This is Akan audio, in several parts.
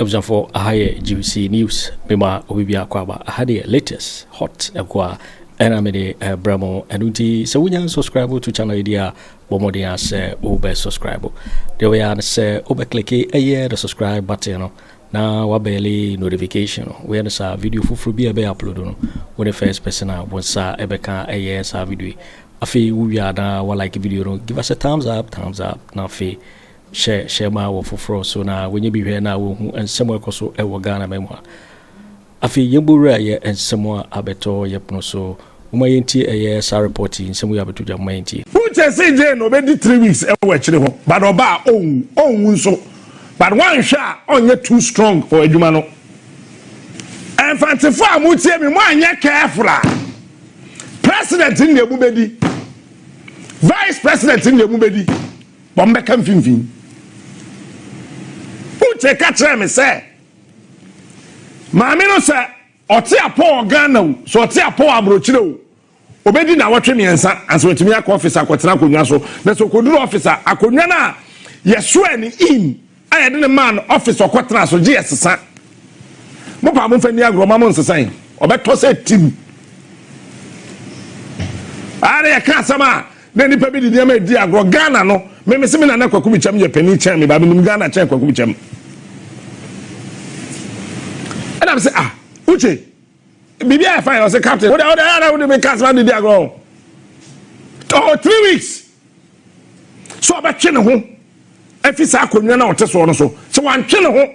abusuafoɔ aha yɛ gbc news mema obi bi akɔ aba aha deɛ latest hot ɛkɔ a ɛna mede ɛbrɛ mo ɛno nti sɛ wonya subscribe to channel yi deɛ a Bɔ mmɔden ara sɛ wobɛ subscribe. Deɛ wobɛyɛ ara ne sɛ wobɛ kliki ɛyɛ the subscribe button no na wabɛɛle notification no. Woyɛ no saa video foforɔ bi a ɛbɛyɛ upload no, wo ne first person a wo nsa ɛbɛka ɛyɛ saa video yi. Afei wowie a na wa like video no, give us a thumbs up, thumbs up na afei hyɛ hyɛ ma wɔ foforɔ so na wɔnyɛ bi hwɛ na wɔhu nsɛm ɛkɔ so ɛwɔ Ghana ma mu a. Afei yɛbɔwura yɛ nsɛm a abɛtɔ yɛ pono so. Momma yɛntie ɛyɛ saa report yi, nsɛm wei abɛto dwa, momma yɛntie. Fuchs see Jane ɔbɛdi three weeks wɔ akyire hɔ but ɔba a ɔnwu, ɔnwu nso but woanhwɛ a ɔnyɛ too strong for adwuma no. Mfantefoɔ a motie me, moanyɛ careful a, President no deɛ mobɛdi, Vice President no deɛ mobɛdi, but mobɛka mfimfini. Uche ka kyerɛɛ me sɛ. Maame no sɛ ɔte apɔ wɔ Ghana o, sɛ ɔte apɔ wɔ aburokyire o, obedi nnawɔtwe mmiɛnsa ansa watumi akɔ ɔfis akɔtena akonnwa so. Na sɛ okoduru ɔfis a, akonnwa no a yɛsoɛ no in a yɛde no maa no ɔfis ɔkɔtena so gye yɛsesa. Mo paa momfa nni agorɔ ma mo nsesa yi, ɔbɛtɔ sɛ tim. Ara yɛka asɛm a. Na nipa bi de nneɛma redi agorɔ. Ghana no, me mese me nana Kwaku Bikyam yɛ panin kyɛn me ba. Menim Ghana kyɛn Kwaku Bikyam. Ɛna mese ah, Uche, biribi ayɛ fine. Ɔse captain, wode wode ayɛ na wode me ka asɛm de di agorɔ o. Ɔwɔ three weeks. So ɔbɛtwe ne ho afi saa akonnwa na ɔte soɔ no so. Sɛ wantwe ne ho.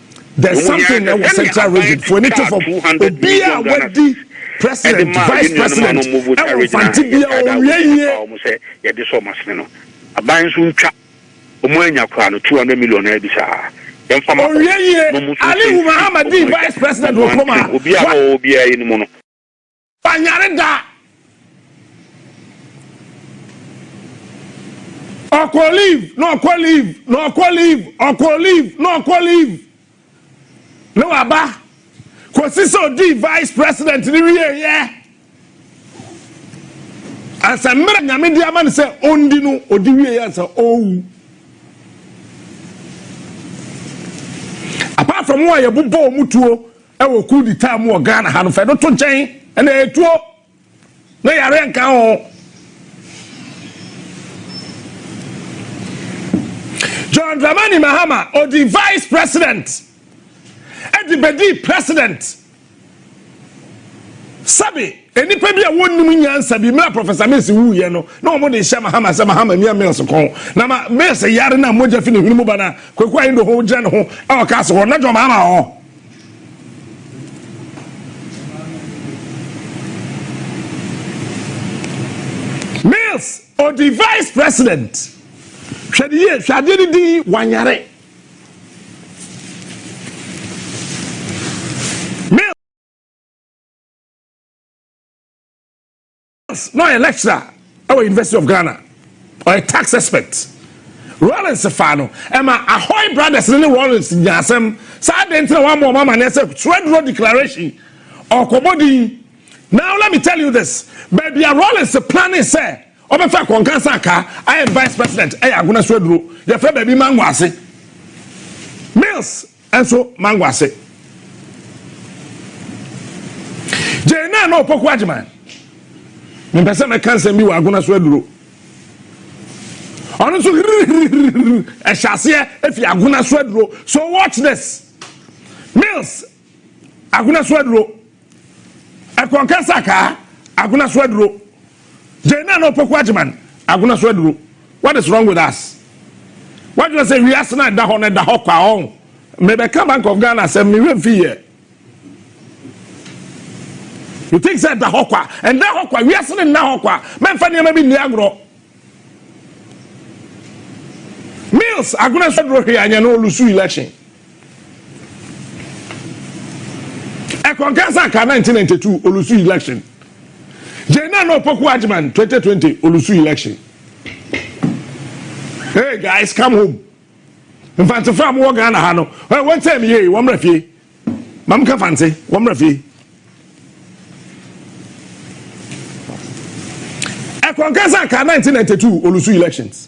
There's something na wɔ central region fo ani to fam obiaa wadi president vice president ɛwɔ mfante bia ɔnwie yie. Yɛde sɔ ɔmo asene no aban nso ntwa ɔmo anya koraa no 200 million na ɛbi saa yɛmfa ma ɔmo ɔwie yie Ali Humahama dii vice president wɔ kurom ha obiaa na ɔwɔ obiaa yɛ no mu no. Ɔnyare da. Ɔkɔ leave na ɔkɔ leave na ɔkɔ leave ɔkɔ leave na ɔkɔ leave na waba kɔsi sɛ ɔdii vice president ne wieeɛ ansa mmerɛ nyame de ama no sɛ ɔndi no ɔdi wieeɛ ansa ɔwu apart from wɔn a yɛbobɔ wɔn tuo Wɔ coup d'etat mu wɔ Ghana ha no, fa ɛno to nkyɛn, ɛnna ɛyɛ tuo, na yareɛ nka ho. John Dramani Mahama, ɔdi vice president, ɛde bɛdi president. Sɛbe. Nnipa bi a wɔnnim nyansa bi, mmerɛ a Professor Mills wuiɛ no, na wɔn de hyɛ Mahama sɛ Mahama mia Mills kɔn, na ma Mills yare no a mogya fi ne hwene mu ba no a, Kwaku Ahindoho gyina ne ho wɔ castle hɔ, na John Mahama wɔ hɔ. Mills, ɔdi vice president. Hwɛ ne yie, hwɛ adeɛ no din, wanyare. na ɔyɛ lecturer ɛwɔ university of ghana ɔyɛ tax expert rollins faa no ɛma ahoy brothers ne rollins nya asɛm saa de ntina wɔn wɔn amaneɛ sɛ twerɛduro declaration ɔkɔbɔ din now let me tell you this baabi a rollins plane sɛ ɔbɛfa kɔnkan san ka ayɛ vice president ɛyɛ agona so aduro yɛfrɛ baabi mango ase mills Nso mango ase gyee naa na ɔpɔku agyeman mempɛ sɛ mɛka nsɛm bi wɔ agona so aduro ɔno nso hirihirihiri ɛhyɛ aseɛ efi agona so aduro so watch this mills agona so aduro Ɛkɔnkɛ Sakaa, Agona so aduro. Gyai na na Opoku Agyeman, Agona so aduro. What is wrong with us? Wadwene sɛ wiase no a ɛda hɔ no ɛda hɔ kwa ɔn. Mebɛka Bank of Ghana asɛm mehwɛ mfi yɛ. You think sɛ ɛda hɔ kwa? Ɛnda hɔ kwa. Wiase no nna hɔ kwa. Mɛmfa nneɛma bi nni agorɔ. Mills, Agona so aduro hwee anyɛ no olusu election. Ɛkɔnkan sɛ anka 1992 Olusu election gyei na na Opoku Agyeman 2020 Olusu election. Hey guys come home. Mfantsefo a mowɔ Ghana ha no, hey, wɔntsɛe me yie, wɔmmra fie. Ma menka Fantse, wɔmmra fie. Ɛkɔnkan sɛ anka 1992 Olusu elections.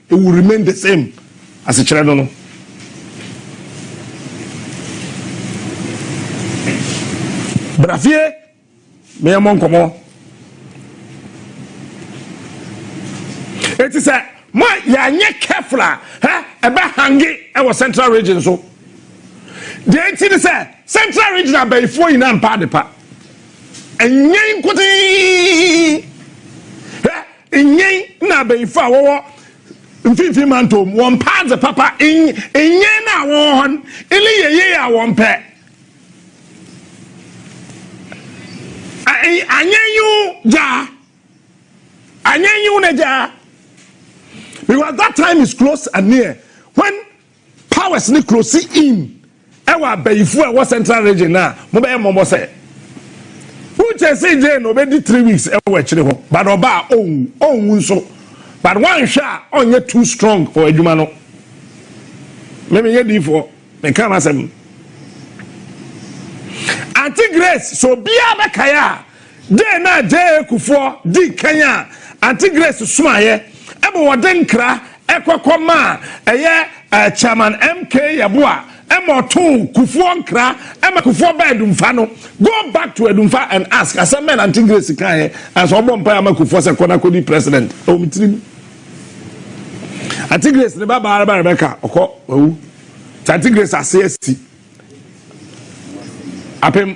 It will remain the same asekyerɛ no no. Bra fie na yɛmmɔ nkɔmmɔ. Eti sɛ ma yɛanyɛ careful a, hɛ ɛbɛ hange ɛwɔ central region so. Deɛ nti ne sɛ central region abayifoɔ nyinaa mpa adepa. Ɛnyɛ nkote. Nnyɛn na abayifo a wɔwɔ Mfinimfin Mantɔw mu wɔn paa dze papa nnyɛn no a wɔwɔ hɔ no ne yɛ yie a wɔmpɛ. Anyɛ nyiw gyaa. Anyɛ nyiw na gyaa. Because that time is close and near when Powers ne close in ɛwɔ abayifo a ɛwɔ central region no a mobɛyɛ mmɔbɔ sɛ wokyɛ se gye no ɔbɛdi three weeks ɛwɔ akyire hɔ but ɔba a ɔnwu ɔnwu nso but wanhwɛ a ɔnyɛ too strong for adwuma no memeyɛ diifoɔ meka m'asɛm Auntie Grace so obiara bɛkae a Dɛn na JA. Kufuor dii kan a Aunty Grace suaeɛ ma wɔde nkra kɔ kɔ maa ɛyɛ Chairman MK Yeboah ma ɔtoo Kufuor nkra ma Kufuor baa Adumfa no? Go back to Adumfa and ask asɛm bɛn na Aunty Grace kaeɛ ansa ɔbɔɔ mpaeɛ ama Kufuor sɛ kɔ na kɔdi President? Ɛwɔ me tirim. Aunty Grace ne babaa ba Rebecca ɔkɔ wawu nti Aunty Grace ase asi apem.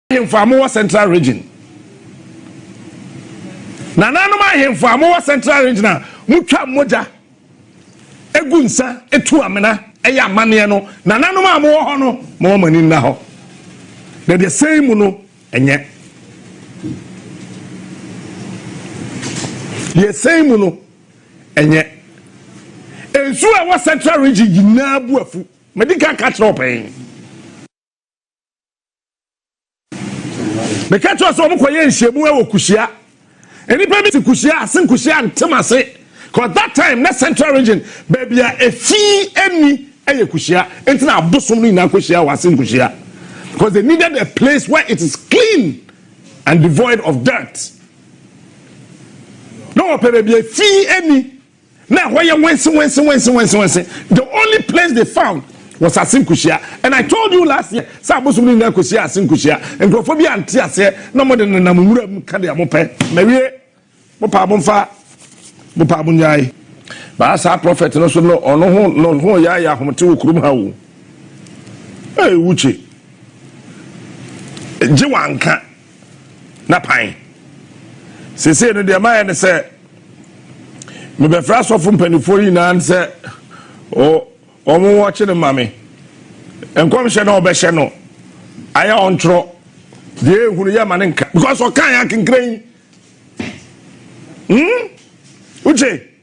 ahemfo a mowɔ central region nananom ahemfo a mowɔ central region a motwa mogya egu nsa etu amena ɛyɛ amanneɛ no nananom a mowɔ hɔ no mowɔ mo ani nna hɔ na deɛ sɛn mu no ɛnyɛ deɛ sɛn mu no ɛnyɛ nsuo a ɛwɔ central region nyinaa bu afu mɛdi kan ka kyerɛ ɔpɛn. meka kyerɛ sɛ wɔn kɔyɛ nhyiamu wɔ kuhyia nnipa bi te kuhyia ase kuhyia ntem ase cause that time na central region baabi a efi ɛni ɛyɛ kuhyia nti na abosom no nyinaa kuhyia wɔ ase kuhyia because they needed a place where it is clean and devoid of dirt na wɔpɛ baabi efi ɛni. Na ɛhɔ yɛ wɛnse wɛnse wɛnse wɛnse wɛnse. The only place they found was Ase Nkuhyia. And I told you last year sɛ abosom no nyinaa kɔsi Ase Nkuhyia. Nkurɔfoɔ bi ante aseɛ na wɔde nenam nwura mu ka deɛ wɔpɛ. Mawie. Mopaa momfa, mopaa monnyae. Baa saa prɔfɛt no so no, ɔno ho no ho yɛ ayɛ ahomete wɔ kurom ha o. Ei, Uche, gye w'anka. n'apan. Seesei no, deɛ mayɛ ne sɛ mebɛfrɛ asɔfo mpanimfoɔ yi nyinaa ne sɛ wɔn wɔkye no ma me. Nkɔmhyɛ na wɔbɛhyɛ no ayɛ ɔntwerɛ deɛ ehunu yɛ ma ne nka because ɔkan akenkran yi. Hmm? Uche.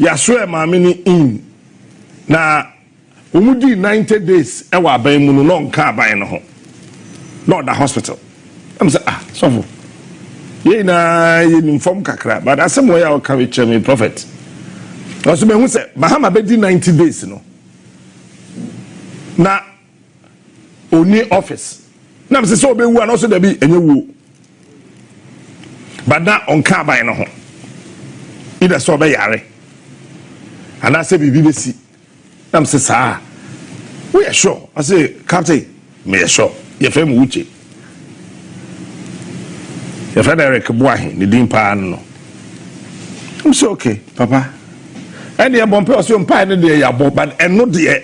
Yɛasoɛɛ maame no in, na wɔdii ninety days wɔ aban mu no, na ɔnka aban no ho, na ɔda hospital. Na me sɛ, ah, sɔfo, yɛn nyinaa yɛnim fam kakra, but asɛm wei a woka wei kyerɛ me, prophet. Nanso mahu sɛ Mahama bɛdi ninety days no, na ɔni office na mesɛ sɛ ɔbɛwu a na ɔsɛ dabi ɛnyɛ wuo but na ɔnka aban no ho either sɛ ɔbɛyare anaasɛ biribi bɛsi na mesɛ saa woyɛ sure ɔse captain meyɛ sure yɛfrɛ me wukye yɛfrɛ no eric boahe ne din paa no no mesɛ okay papa ɛne ɛbɔ mpɛ ɔsɛ mpae no deɛ yɛabɔ but ɛno deɛ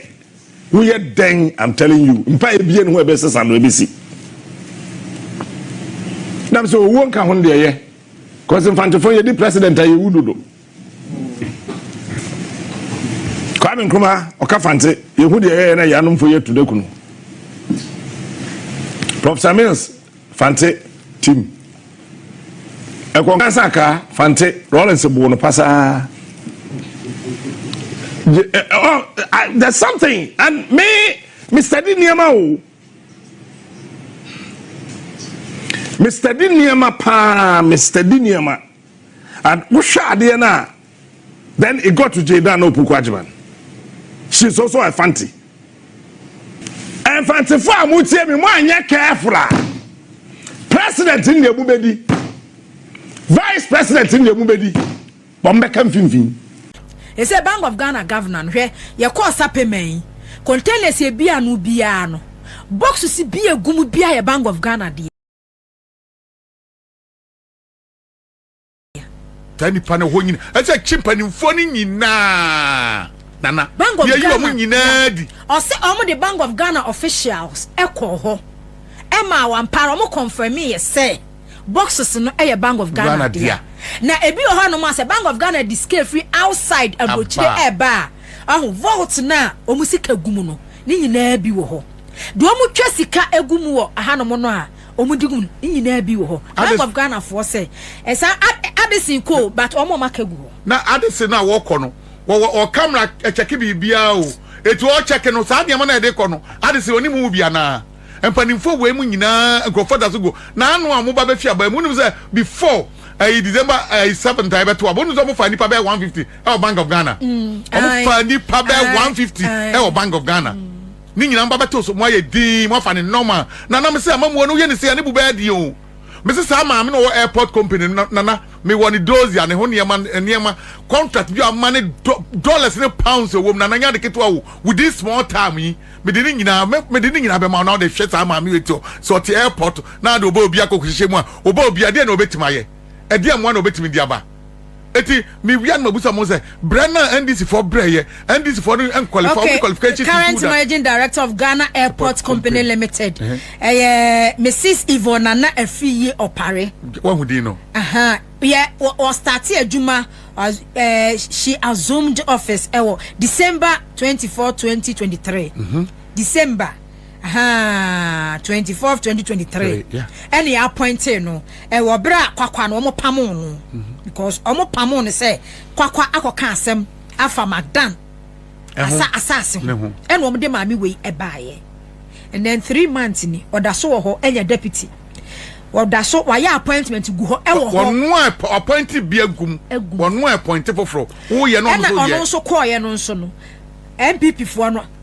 Woyɛ dɛn I'm telling you mpa ebie ne ho ɛbɛ sesa no ɛbɛ si na bɛ sɛ owuo nka ho no deɛ yɛ kɔsi mfantefo yɛ di president a yɛ wu dodo Kwame Nkrumah ɔka fante yɛ hu deɛ yɛ yɛ na yɛ anomfo yɛ tu de kunu Professor Mills Fante, Tim. Ɛkɔ nka sɛ akaa, Fante, Rawlings boo no pasaa. Gye, ɛ, eh, ɔ, oh, I, there's something, and me, me study nneɛma o. Me study nneɛma paa, me study nneɛma. And wohwɛ adeɛ no a, Then it got to Jaydan na Opoku Agyemang. She's also a Fanti. Mfantefo a mo tie mi mo anyɛ careful a president ne deɛ mo bɛdi vice president ne deɛ mo bɛdi wɔn bɛka mfimfini. Ɛsɛ Bank of Ghana governor no hwɛ yɛkɔɔ sapɛma yi containers yɛ bi ano biara no boxes bi yɛ gu mu biara yɛ Bank of Ghana deɛ. taa nipa no hɔ nyina ɛsɛ kye mpanimfoɔ no nyinaa nana yɛyi wɔn nyinaa di. ɔsɛ wɔn de bank of ghana officials ɛkɔɔ hɔ ɛma wɔn ampaara wɔn kɔnfɛmi yɛ sɛ boxes no ɛyɛ bank of ghana dea na ebi wɔ hɔ nom asɛ bank of ghana di scale free outside aburokyire ɛɛba a ɔho vault no a wɔn sika gu mu no ne nyinaa bi wɔ hɔ deɛ wɔn twa sika egu mu wɔ ahanom no a. Ɔmo di gu no ne nyinaa bi wɔ hɔ bank of Ghana foɔ sɛ ɛsan ade ade sen kɔ o but ɔmo ɔmo aka gu hɔ. Na ade se no a wɔkɔ no wɔwɔ ɔ camera ɛkyɛke biribiaa o eti ɔkyɛke no saa nneɛma no a ɛdekɔ no ade se ɔne mu bi anaa mpanimfoɔ wɔ emu nyinaa nkurɔfoɔ daso gu na ano a ɔmo ba bɛfi aba mu wonim sɛ before ɛyi December ɛyi seventh a ɛbɛto aba wonim sɛ ɔmo faa nipa bɛɛ 150 ɛwɔ bank of Ghana ɔmo faa nipa bɛɛ 150 ɛwɔ bank of Ghana. Ne nyinaa mba bɛtow so, moayɛ dinn, moafa no nɔɔma. Nana, mese amammuo no woyɛ no sei a ne bo bɛyɛ den o. Mese saa maame no a ɔwɔ airport company no, Nana, mewɔ ne dossier, ne ho nneɛma, nneɛma, contract bi a ɔma ne dɔ, dollars ne pounds a ɛwɔ mu, Nana, ɛnyɛ ade ketewa o, within small time yi, mede ne nyinaa, mɛ, mede ne nyinaa bɛma wo na wode hwɛ saa maame wei ti, sɛ ɔte airport na ade ɔba obi akɔhyehyɛ mu a, ɔba obi a, ɛdeɛn na ɔbɛtumi ayɛ? Ɛdeɛn mmoa na ɔbɛtumi de aba? Eti mi wia no ma busa mo sɛ brɛ na NDC foɔ brɛ yɛ NDC foɔ no nkwalify okay. ɔmo qualification ti current managing director of Ghana Airport Company Limited ɛyɛ Mrs Yvonne Nana Afiye Opare. Wahu din no. Yɛ wɔ start adwuma she assumed office ɛwɔ December twenty four twenty twenty three December. ahaa twenty fourth twenty twenty three ɛna yɛ appointee no ɛwɔ bere a kwakwa no wɔn pamoo no mhm. because wɔn pamoo no sɛ kwakwa akɔka asɛm afa magdan asa asaase ho ɛna wɔn de maame wei ɛbaayɛ and then three months ni ɔda so wɔ hɔ ɛnyɛ deputy ɔda so wayɛ appointment gu hɔ ɛwɔ hɔ wɔn a appointee bi agum wɔn a appointee foforɔ wɔyɛ no nso yɛ ɛna ɔno nso kɔɔyɛ no nso no npp foɔ no.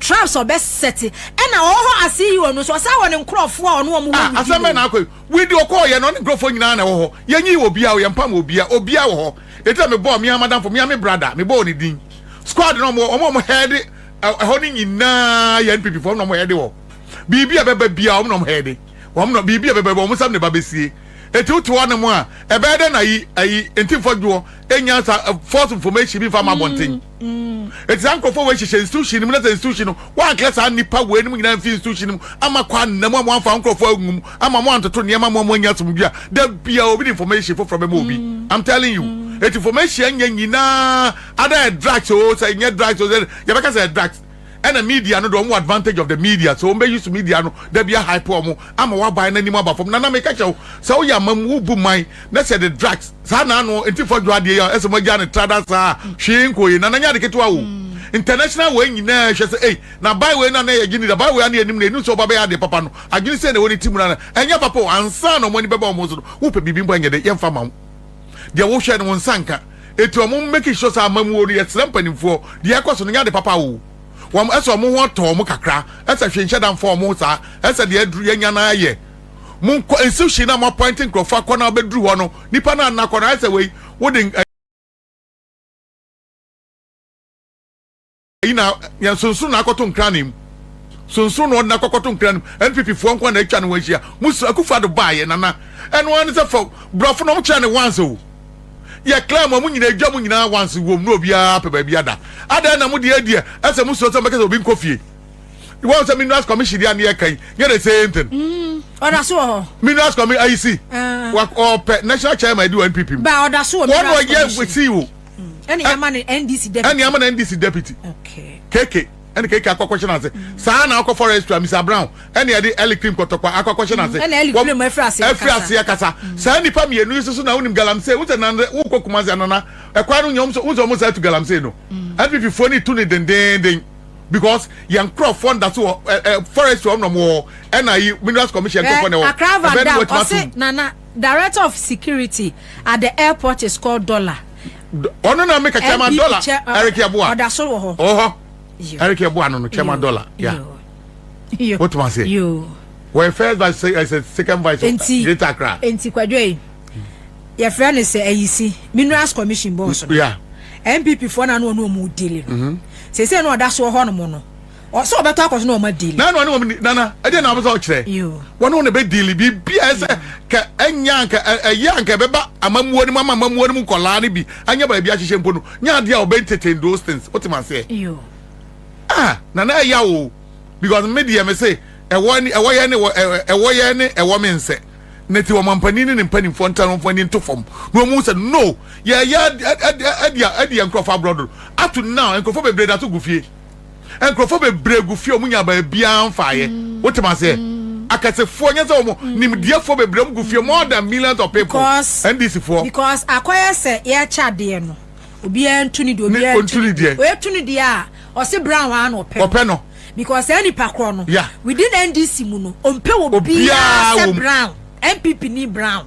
Traps ɔbɛ sɛte ɛna ɔwɔ hɔ ase yi ɔno nso ɔsan wɔ ne nkorɔfoɔ a ɔne wɔn wɔ widi. Asɛm bɛn na akɔ yi widi ɔkɔɔ yɛ na ɔne nkorɔfoɔ nyinaa na ɛwɔ hɔ yɛn nyi obia o yɛn mpam obia obia wɔ hɔ eti na me bɔɔ mia madamfo mia me brada me bɔɔ ne din squad na ɔmo ɔmo ɔmo hɛɛde ɛhɔ ne nyinaa yɛ NPP foɔ ɔmo na ɔmo hɛɛde wɔ biribi a bɛba bia ɔmo na ɔmo hɛɛde wɔn na biribi a bɛba ɔmo nsam na ɛba bɛsie eti wote hɔ nom a ɛbɛyɛ dɛ na yi ayi nti nfɔdwoɔ enya sa false information bi nfa ma abɔnten. Eti saa nkurɔfoɔ wei hyehyɛ institution no mu na sɛ institution no wɔanka saa nnipa wei nom nyinaa mfi institution no mu ama kɔ anna mu ama wɔamfa nkurɔfoɔ angu mu ama wɔantoto nneɛma ama wɔn anya asomdwe a da bia obi de information foforɔ bɛma obi I'm telling you eti information nyɛ nyinaa ada yɛ drugs o sɛ nyɛ drugs o sɛ yɛbɛka sɛ yɛ drugs ɛna media no de ɔmo advantage of the media sɛ ɔmo bɛ use media no da bi ahype ɔmo ama waban na nim aba fam nana mi kɛkyɛ wo sɛ woyɛ amam wo bu man na sɛ de drugs saa na ano nti fɔ dwa adeɛ yɛ ɛsɛ mo agya ne trada saa hwee nko ye nana nyɛ ade ketewa wo international wɔ nyinaa hwɛ sɛ ei na ban wei na na yɛ gye ni da ban wei ana yɛ nim na enim sɛ ɔba bɛyɛ adeɛ papa no adwene sɛ na ɛwɔ ne ti mu na ɛnyɛ papa o ansa na ɔmo ani bɛba ɔmo so no wopɛ biribi mpo ɛnyɛ de yɛmfa ma wo deɛ wo hwɛ no wo nsa nka eti ɔmo make sure sɛ amamuo no yɛsrɛ mpanimfoɔ deɛ ɛkɔ so no nyɛ ade papa oo wɔn ɛsɛ ɔmo ho ɔtɔ ɔmo kakra ɛsɛ hwee nhyɛ da nfa ɔmo saa ɛsɛ deɛ aduru yɛnya no ayɛ mo nkɔ institution na mo appoint nkorɔfoɔ akɔ na abɛduru hɔ no nipa no anna kɔ no ayɛ sɛ wei wode Ayi na yɛn sonson na akɔto nkran na emu. Sonson na ɔde na akɔkɔto nkran mu. NPP foɔ nko na atwa ne ho ahyia. Musu Akufo Addo baayɛ nana. Ɛno ara ne sɛ fɔ borɔfo na wɔn kyerɛ ne once o. Yɛ clear ma wɔn nyinaa edwa mu nyinaa once wom na obiara pɛ baabi ada. Adɛn na mo deɛ deɛ ɛsɛ mo suro sɛ mo bɛka sɛ obi nkɔ fie. Wɔn sɛ minerals commission deɛ ne yɛ kan nyɛ the same thing. Mm, ɔda so wɔ hɔ. Minerals commission ayi si. Uh. Ɔpɛ national chairman di wɔ NPP mu. Ba ɔda so wɔ minerals commission. Wɔn na ɔyɛ si o. ɛne yɛ ama no ndc deputy ɛne ama no ndc deputy okay keke ɛne keke akɔ akɔhyɛ n'ase mm. saa na akɔ forest a mr brown ɛne ɛde ɛli cream kɔtɔkwa akɔ akɔhyɛ mm. n'ase ɛne ɛli cream ɛfiri ase akasa ɛfiri ase akasa mm. saa nipa mmienu yi soso na wonim galamsey wosɛ nande wokɔ kumasi anana ɛkwan no nyɛ wosɛ wɔn saa tu galamsey no npp foɔ ne tu ne dendenden because yɛn nkurɔfoɔ nda so wɔ ɛ ɛ forest wɔn na wɔn wɔ ɛna yi minerals commission nkurɔfoɔ na wɔ ɛbɛn ni wɔtuma so. Director of security at the airport is called Dollar. Ɔno na meka chairman Dollar. Eric Yeboah. Ɔda so wɔ hɔ. Ɔwɔ hɔ. Eric Yeboah no no chairman Dollar. Yeah. Yo. What must say? Yo. Wɔyɛ first vice ɛsɛ second vice of Greater Accra. Nti kwadwo yi. Yɛfrɛ no sɛ ayisi minerals commission boss no. Yeah. NPP foɔ na ano ɔno ɔmo dili no. Sese no ɔda so wɔ hɔ nom no. Ɔsɛ ɔbɛtɔ akɔ so na ɔma deal. Nana ɔne wɔn nana ɛdeɛ na ɔpɛ sɛ ɔkyerɛ. Wɔne wɔn na ɛbɛ deal biribi a ɛsɛ ka ɛnyɛ anka ɛyɛ anka ɛbɛba amamuo no mu ama amamuo no mu nkɔlaa no bi anya baabi ahyehyɛ mpo no nyɛ adeɛ a ɔbɛ entertain those things wote ma aseɛ. Ah nana ɛya o because me deɛ me se ɛwɔ ne ɛwɔ yɛ ne ɛwɔ yɛ ne ɛwɔ me nsɛ ne ti wɔn mampanin ne ne mpanimfoɔ nta wɔn ani nto fam na wɔn mu sɛ no yɛ yɛ ɛdi ɛdi nkorɔfo aborɔdo ato now nkorɔfo bebree da so gu fie. nkurɔfoɔ bebree gu fie a wɔn nya baabiara mfaeɛ wote ma seɛ akɛsefoɔ nyɛ sɛ wɔn nimdeɛfoɔ bebree wɔn gu fie more than millions of people because ndc foɔ because akɔyɛ sɛ yɛkyɛ adeɛ no obiara ntu ne deɛ obiara ntu ne deɛ oetu ne deɛ a ɔse brown a na ɔpɛ ɔpɛ no because saa nipa korɔ no yeah. within ndc mu no ɔmpɛ obiara sɛ brown npp ni brown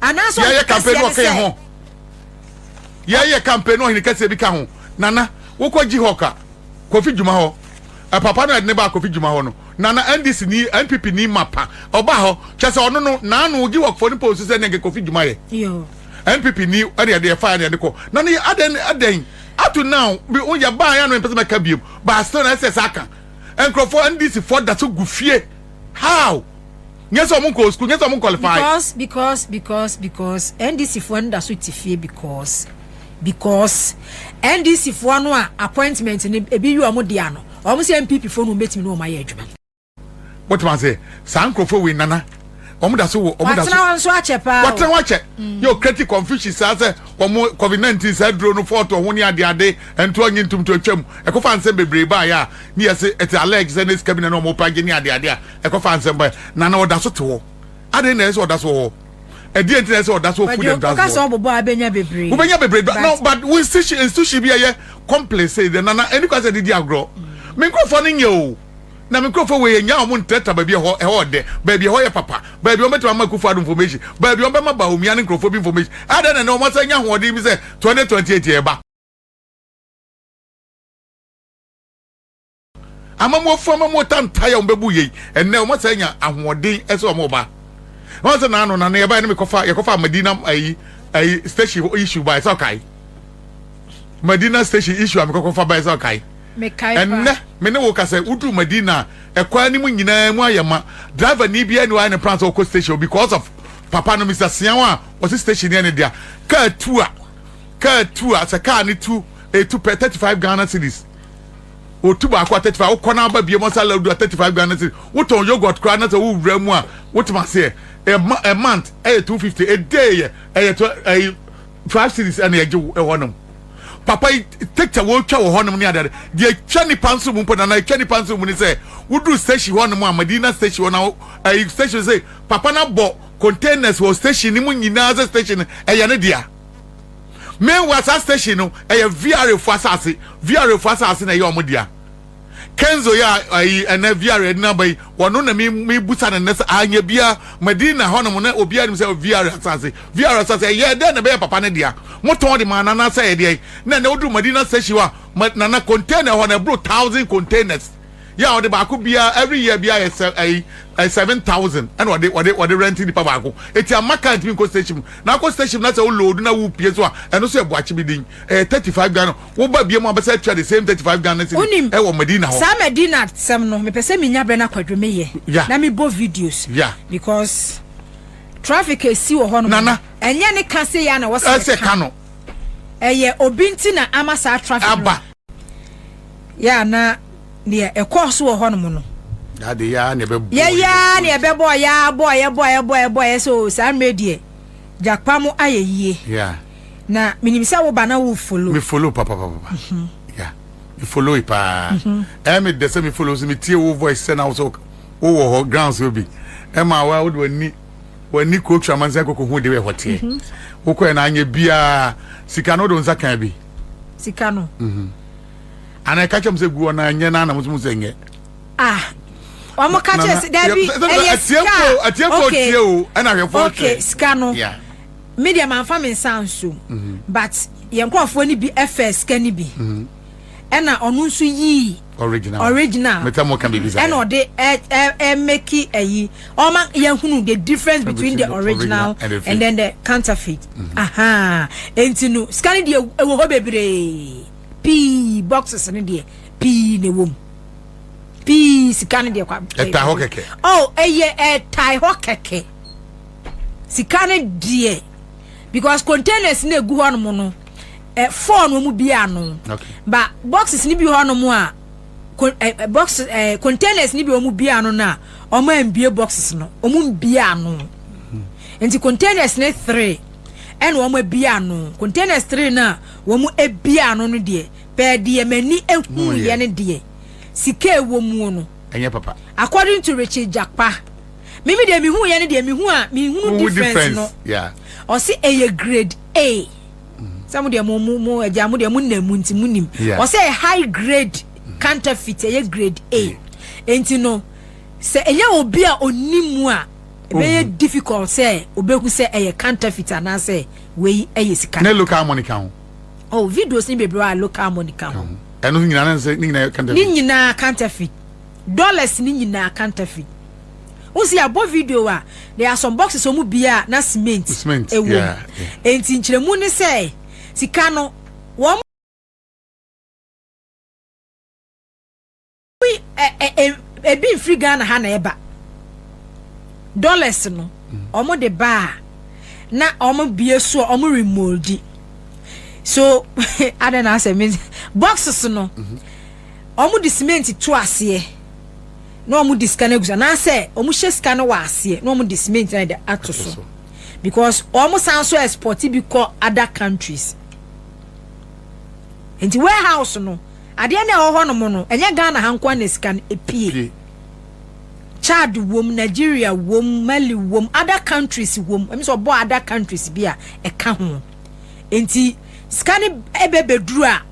anaasɛ yɛyɛ campaign no ɔkɛn ho yɛyɛ campaign no ɔhene kɛseɛ bi ka ho nana wokɔ jihawk a kofi dwuma hɔ papa no ɛde ne ba kofi dwuma hɔ no nana ndc ni npp ni mapa ɔba hɔ kyɛ sɛ ɔno no naano jihawk fo no pɔ nsu sɛ ne nka kofi dwuma yɛ npp ni ɛne ɛde ɛfa ɛne ɛde kɔ na ne adɛn adɛn ato now bi woyɛ baa yɛ no mpɛ sɛ mɛka biom baa still na ɛsɛ sɛ aka nkurɔfoɔ ndc foɔ da so gu fie how Nyɛ sɛ ɔmo nkɔɔ sukuu, nyɛ sɛ ɔmo nkwɔlifae. Because, because, because, because NDC foɔ no da so te fie because, because NDC foɔ no a appointment no ebi yɛ ɔmo dea no, ɔmo sɛ NPP foɔ no wɔn bɛtumi ne wɔn ayɛ adwuma. Wote ma se, saa nkurɔfoɔ wei nana, wɔn da so wɔ, wɔn da so. Watena hɔ nso akyɛ paa o. Watena hɔ akyɛ. Mm. Yɛ ɔkreti confusion saa sɛ wɔn covid nineteen saa duro no fɔɔto ɔho ne ade ade nto ɔnye ntomto atwam ɛkɔfa nsɛm bebree baayɛ a ne yɛ se ɛte alleged sɛ ne sika bi na na wɔn pagye ne ade ade a Ɛkɔfaa nsɛm bae, na na ɔda so te hɔ. Adɛn na ɛsɛ sɛ ɔda so wɔ hɔ? Ɛdeɛn nti na ɛsɛ sɛ ɔda so wɔ Full Dam Transit hɔ? Ɔka sɛ ɔbobɔ a abɛnya bebree. Wobɛnya bebree but no but wo institution institution bi ɛyɛ complain sei deɛ na na ɛni kwan sɛ ɛde di agorɔ. Me nkurɔfoɔ no nyɛ o. Na me nkurɔfoɔ wei yɛnyaa wɔn ntrɛtra baabi ɛhɔ ɛhɔ ɔdɛ baabi ɛhɔ yɛ papa baabi wɔn bɛtumi ama Akufo-Addo information baabi wɔn bɛma Bawumia ne nkurɔfoɔ bi information adɛn na ɛnɛ wɔn asan nya ahoɔden bi sɛ 2028 yɛreba. Amammuɔfoɔ amammuo tantaeɛ a wɔbɛbu yei ɛnnɛ wɔn sɛ anya ahoɔden ɛsɛ wɔn ba wɔn sɛ naano nane yɛba ɛne mekɔfa yɛkɔfa Madina ayi ayi station issue ba ɛsɛ ɔkae Madina station issue a mekɔkɔfa ba ɛsɛ ɔkae ɛnnɛ me ne wo ka sɛ wodu Madina ɛkwan no mu nyinaa mu ayɛ ma driver ni biara ni wɔayɛ ne plan sɛ ɔkɔ station because of papa no Mr. Siaw a ɔsi station yɛ ne dea kaa tu a kaa tu a sɛ kaa ne tu etu pɛ 35 Ghana cedis otu baako a thirty five wokɔ na aba biem ɔsa ladu a thirty five ghana cedi wotɔn yogurt koraa na sɛ wowura mu a wotema aseɛ ɛma ɛ month ɛyɛ two fifty ɛdee yɛ ɛyɛ tw ɛyi five series ɛna ɛgye wo ɛhɔ nom papa yi tɛkyɛ wɔtwa wɔ hɔ nom ne adeade deɛ ɛtwa nipa nso mu mpo na na ɛtwa nipa nso mu ne sɛ woduru station hɔ nom a madina station hɔ na wo- ɛyi station sɛ papa no abɔ containers wɔ station no mu nyinaa sɛ station no ɛyɛ ne dea Meanwhile saa station no ɛyɛ VRA fo asase, VRA fo asase na ɛyɛ wɔn dea. Kenzo yɛ ayi ɛnɛ VRA ɛdina ba yi, wɔno na me me busa no nnɛ sɛ anyɛ bia Medina hɔnom na obiara nim sɛ VRA asase, VRA asase ɛyɛ dɛn na ɛbɛyɛ papa no dea? Motɔn de maa no anaasɛ ɛyɛ deɛn? Na ɛnɛ woduru Medina station hɔ a, ma Nana container hɔ no ɛboro thousand containers. yɛ a ɔde baako biara every year biara yɛ sɛ ɛyi ɛ seven thousand ɛna ɔde ɔde ɔde rent nipa baako eti ama kaa ntumi nkɔ station mu na akɔ station mu na sɛ o load na wo pie so a ɛno so yɛ buakye bi din ɛyɛ thirty five ghana wo ba bie mu abɛsɛ atua the same thirty five ghana cedi Wonim, ɛwɔ medina hɔ saa Medina sɛm no, mepɛ sɛ menya berɛ na Kwadwo meyɛ ya na mebɔ videos ya because traffic a ɛsi wɔ hɔnom no, nana ɛnyɛ ne ka sei ara na ɛwɔ sɛ ɛsɛ ɛka. ka no Ɛyɛ obi nti na ama saa traffic no. aba. yɛ na deɛ ɛkɔɔ so wɔ hɔnom no yɛyaa ne ɛbɛbɔɔ yɛa bɔɔ yɛbɔɔ yɛbɔɔ yɛbɔɔ yɛ sɛ o saa mmerɛ deɛ gyakpa mo ayɛ yie na menim sɛ wo ba na wo follow me follow papa papa papa mhm. yeah me follow yi paa mhm. ɛyɛ me dɛ sɛ me follow so me tie wo voice sɛ na wo so wo wɔ hɔ ground so bi ɛma wa wo de w'ani w'ani kuro twa mansa koko ho de wɔ ɛhɔ teɛ mhm. wokɔɛ na anyɛ biara sika no wode wo nsa kan bi sika no. Mhm. ana ɛka kyɛm sɛ guɔ na ɛnyɛ no ana mosom sɛ nyɛ ah wɔn ka kyerɛ sɛ dabi ɛyɛ sika atiefo tie o ɛna ahwɛfo hwɛ okay sika no me deɛ manfa me nsa nso mhm. but yɛn nkurɔfoɔ no bi ɛfɛ sika no bi mhm. ɛna ɔno nso yii original original meta mo ka bibi sa ɛna ɔde ɛ ɛ ɛ meki ɛyi ɔma yɛn hunu the difference between the original and then the counterfeit mm-hmm. aha enti no sika ne deɛ ɛwɔ hɔ bebree pii boxes ne deɛ pii na ɛwɔ mu pii sika ne deɛ kwa ɛtae hɔ kɛkɛ oh ɛyɛ ɛtae hɔ kɛkɛ sika ne deɛ because containers na egu hɔ nom no. ɛ four no wɔn bia ano ba boxes ni bi hɔ nom a ɛ box ɛ containers ni bi wɔn bia ano na wɔn a mbie boxes no wɔn mbia ano hmm. nti containers ne three ɛna wɔn abia ano containers three na wɔn abia ano no deɛ pɛɛ deɛ mɛni ehu yɛ ne deɛ sika ewɔ mu no ɛnyɛ papa according to richard japa mímí deɛ mihu yɛ ne deɛ mihu a mihu difference no ɔsi ɛyɛ grade a. sɛ mo deɛ mo mo mo ɛgya mo deɛ mo nna mu nti mo nim ɔsɛ yɛ high grade counterfeit ɛyɛ grade A nti no sɛ ɛnyɛ obi a ɔni mu a ɛbɛyɛ oh. difficult sɛ ɔbɛhu sɛ ɛyɛ counterfeit anaasɛ wei ɛyɛ sika ne local money ka ho oh videos ni bebree a local money ka ho ɛno nyinaa ne nyinaa counterfeit dollars ne nyinaa counterfeit wo si abɔ video a there are some boxes ɔmo bia na cement ɛwɔ mu enti nkyerɛmu ne sɛ sika no wɔn ebi mfiri Ghana ha na ɛba dollars no ɔmo de ba a na ɔmo bie so a ɔmo remoldi so adɛ na asɛ boxes no. Mm -hmm. wɔn de simenti to aseɛ na wɔn de sika no agu so anaasɛ wɔn hyɛ sika no wɔ aseɛ na wɔn de simenti na de ato so because wɔn san so export bi kɔ other countries nti warehouse no adeɛ na ɛwɔ hɔ nom no ɛnyɛ ghana ha nkoa na sika no epie chad wom nigeria wom mali wom other countries wom ɛmi sɛ ɔbɔ other countries bi a ɛka ho. Enti sika no bɛ bɛduru a,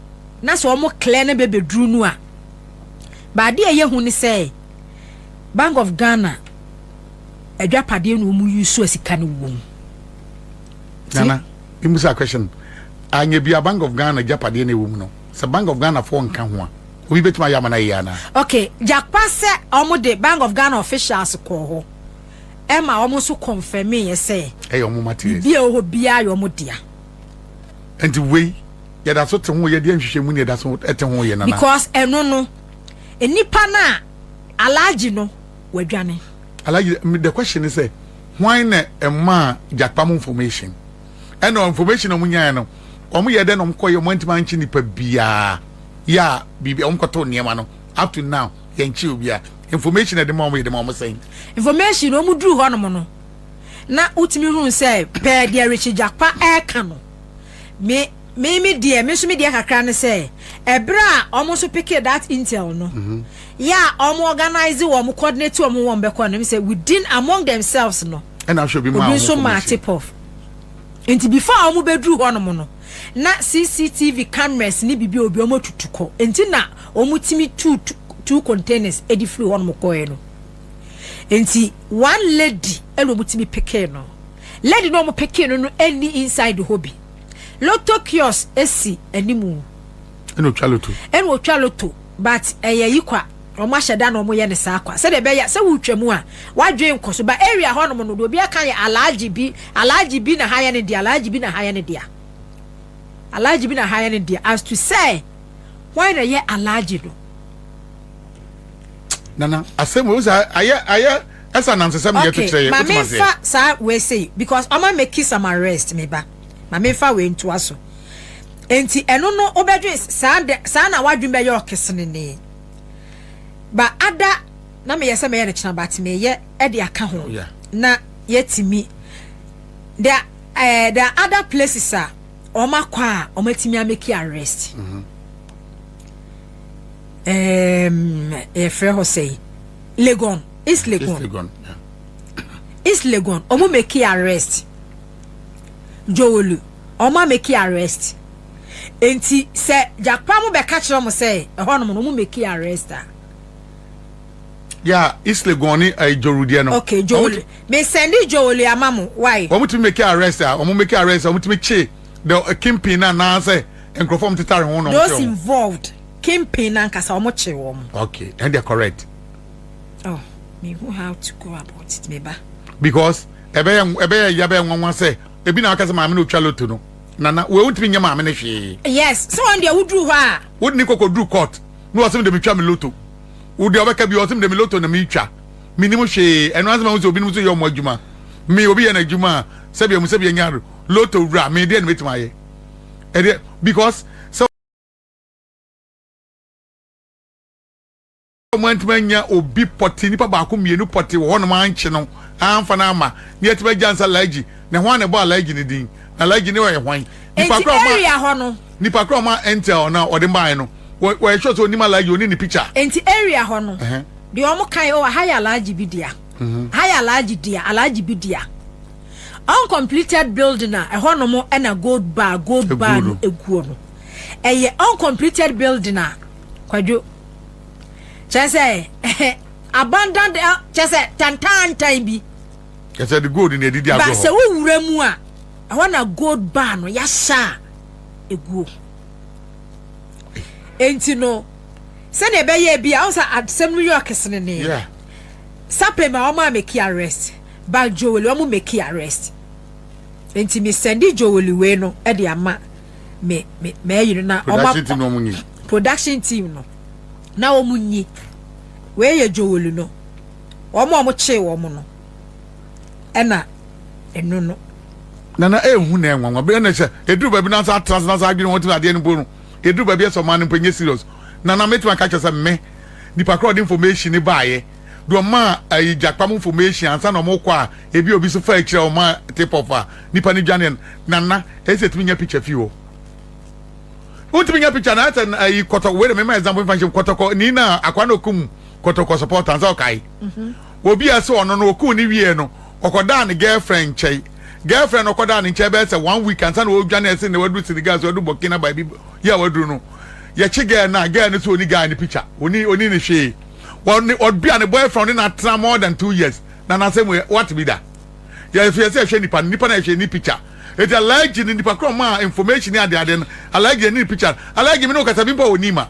na sɛ wɔn klɛ no bɛ bɛduru no a, baade a ɛyɛ hu ne sɛ Bank of Ghana adwapadeɛ na wɔn yi so a sika no wɔ mu. Nana, mmusa question. Anyɛ bi a Bank of Ghana adwapadeɛ na ɛwɔ mu no, sɛ Bank of Ghana foɔ nka ho a, obi bɛtumi ayɛ ama no ayɛ anaa? Okay, gyakpa sɛ wɔn de Bank of Ghana officials kɔɔ hɔ. ɛma wɔn nso kɔnfɛmeeɛ sɛ ɛyɛ wɔn materials. Biribi a ɛwɔ hɔ biara yɛ wɔn dea. Nti wei yɛda so te ho yɛ deɛ nhwehwɛ mu ne yɛda so te ho yɛ nana. Because ɛno no nipa no a alagye no wadwane. Alagye the question is sɛ hwan na ɛmaa gyakpa mu information ɛna information a wɔn nyaeɛ no wɔn yɛ dɛ na wɔn kɔ yɛ wɔn ntoma nkye nipa biara yɛ a biribi wɔn kɔtɔ nneɛma no up to now yɛn kye obiara Information a yɛde ma wɔn yɛde ma wɔn sɛn? Information no wɔn duru hɔ nom no na wotumi hunu sɛ pɛɛ deɛ Richie Gyakpa ɛreka no me me me deɛ me nso me deɛ kakra ne sɛ ɛberɛ a wɔn nso pekee that intel no mhm. yɛ a wɔn organize wɔn coordinate wɔn wɔn bɛkɔ no sɛ within among themselves no ɛna ahwɛ bi maa wɔn obi nso maa tip off nti before wɔn bɛduru hɔ nom no. na CCTV cameras ne biribi a obi wɔn atutu kɔ nti na wɔn tumi tuu two containers de firi hɔ nom kɔɛ no nti one lady ɛna wɔn tumi pekee no lady na wɔn pekee no no ɛni inside hɔ bi lotto kiosk esi animu ɛna otwa lotto ɛna otwa lotto but ɛyɛ yikwa. Wɔahyɛ da na wɔyɛ no saa kwa sɛdeɛ ɛbɛyɛ a sɛ woretwa mu a w'adwene nkɔ so. But area hɔnom no deɛ obiara ka yɛ Alhaji bi, Alhaji bi na ha yɛ ne dea, Alhaji bi na ha yɛ ne dea, Alhaji bi na ha yɛ ne dea as to sɛ hwan na ɛyɛ Alhaji no. Nana, asɛm o, sɛ ayɛ ayɛ ɛsɛ anansesɛm na yɛto kyerɛ yɛ, wotumi aseɛ. Okay, ma menfa saa wei sei because ɔma meki some arrest me ba, ma menfa wei ntoa so. Enti ɛno no wobɛdwen saa de saa na w'adwene bɛyɛ ɔkesenenee. ba ada na meyɛ sɛ mɛyɛ no kyena ba te meyɛ ɛde aka ho oh, na yɛtumi the uh, the other places a wɔn akɔ a wɔn atumi ameki arrest mm-hmm. um, yɛfrɛ hɔ sɛ legon east legon east legon wɔn meki arrest jowolu wɔn ameki arrest. Enti sɛ Gyakpa mo bɛka kyerɛ wɔn sɛ ɛhɔnom no wɔmmɛki arrest a. Yeah, Islegon ne uh, Joru deɛ no. Okay, Joru. Me sɛnde Joru ama mo, why? Wɔn tumi mɛki arrest a, wɔn mɛki arrest a, wɔn tumi kye the uh, kingpin na anaasɛ nkurɔfoɔ wɔn tetare ho na wɔn kye wɔn. Those involved, kingpin na nkasa wɔn kye wɔn. Okay, and they are correct. Oh, me who how to go about it, me ba. Because ɛbɛyɛ ɛbɛyɛ ya bɛyɛ nwanwa sɛ ebi na aka sɛ maame na otwa loto no. Nana, wei wontumi nyɛ maame no hwee. Yes, sɛ wɔn deɛ woduru hɔ a. Wode ne kɔkɔduru court na wɔse mede metwa me lotto. Wo deɛ ɔbɛka bio, ɔse mede me lotto na meretwa. Mennim hwee, ɛno ara nti mahu sɛ obinom nso yɛ wɔn adwuma. Me, obi yɛ n'adwuma a, sɛbea mu sɛbea nya lotto wura, me deɛn na mɛtumi ayɛ? Ɛdeɛ, because sɛ. a wɔantumi anya obi pɔte nipa baako mmienu pɔte wɔ hɔnom ankye no amfa no ama ne yɛtumi agya nsa alhaji na hwan na ɛbɔ alhaji ne din na alhaji ne ɔyɛ hwan nipa koro ɔma area hɔ no nipa koro ɔma intel na ɔde mbae no wɔyɛ sure sɛ onim alhaji onim ne picture enti area hɔ no deɛ wɔn kan o aha yɛ alhaji bi dea mhm. aha yɛ alhaji dea alhaji bi dea uncompleted building a ɛhɔ nom ɛna gold bar gold bar no eguo no ɛyɛ uncompleted building a kwadwo. kyerɛ sɛ abandoned eh, kyerɛ sɛ tantaantan bi kyerɛ sɛ de gold na ɛdidi adwo hɔ sɛ wowura mu a ɛhɔ na gold bar no yɛahyɛ a ɛguo enti no sɛdeɛ ɛbɛyɛ bi a wo sɛ asɛm no yɛ ɔkesene ne yeah. sapem a wɔn a meki arrest but joel wɔn meki arrest nti mi sɛndi joel wei no de ama me me mɛyere na production team no nyi production team no na wɔn nyi wei yɛ jowolu no wɔn a wɔn kyee wɔn no ɛna ɛno no. nana ehu na ɛnwanwa bɛyɛ na ɛhyɛ eduru baabi na nsa atena nsa adwene wɔn ti na adeɛ no bo no eduru baabi ɛsɛ ɔman no mpo nye serious nana mɛtuma ka kyerɛ sɛ mme nipa korɔ ɔde information ne baayɛ deɛ ɔma ayi gyakpa mu information ansa na ɔmo kɔ a ebi obi so fa akyire a ɔma tip off a Nipa no dwane no Nana ese etumi nya picture fi hɔ Wontumi nya picture na asɛ ayi kɔtɔ wei de mema example mfa nhyem kɔtɔkɔ ni na akwa na okum kɔtɔkɔ supporter nsa ɔkae mhm. obi a se ɔno no okum ne wie no ɔkɔdaa ne girlfriend nkyɛe girlfriend no ɔkɔdaa ne nkyɛe bɛyɛ sɛ one week ansa na ɔdwane ɛse na waduru Senegal so waduru Burkina by bi yɛ a waduru no yɛkye girl no a girl no so oni guy ne picture oni oni ne hwee ɔne ɔdua ne boyfriend ne na atena more than two years na n'asɛm wei wate bi da yɛ nso yɛ sɛ ɛhwɛ nipa no nipa no a ɛhwɛ ne picture eti alhaji ne nipa korɔ maa information ne ade ade no alhaji ɛne ne picture alhaji me ne okasa bi mpo a ɔni ma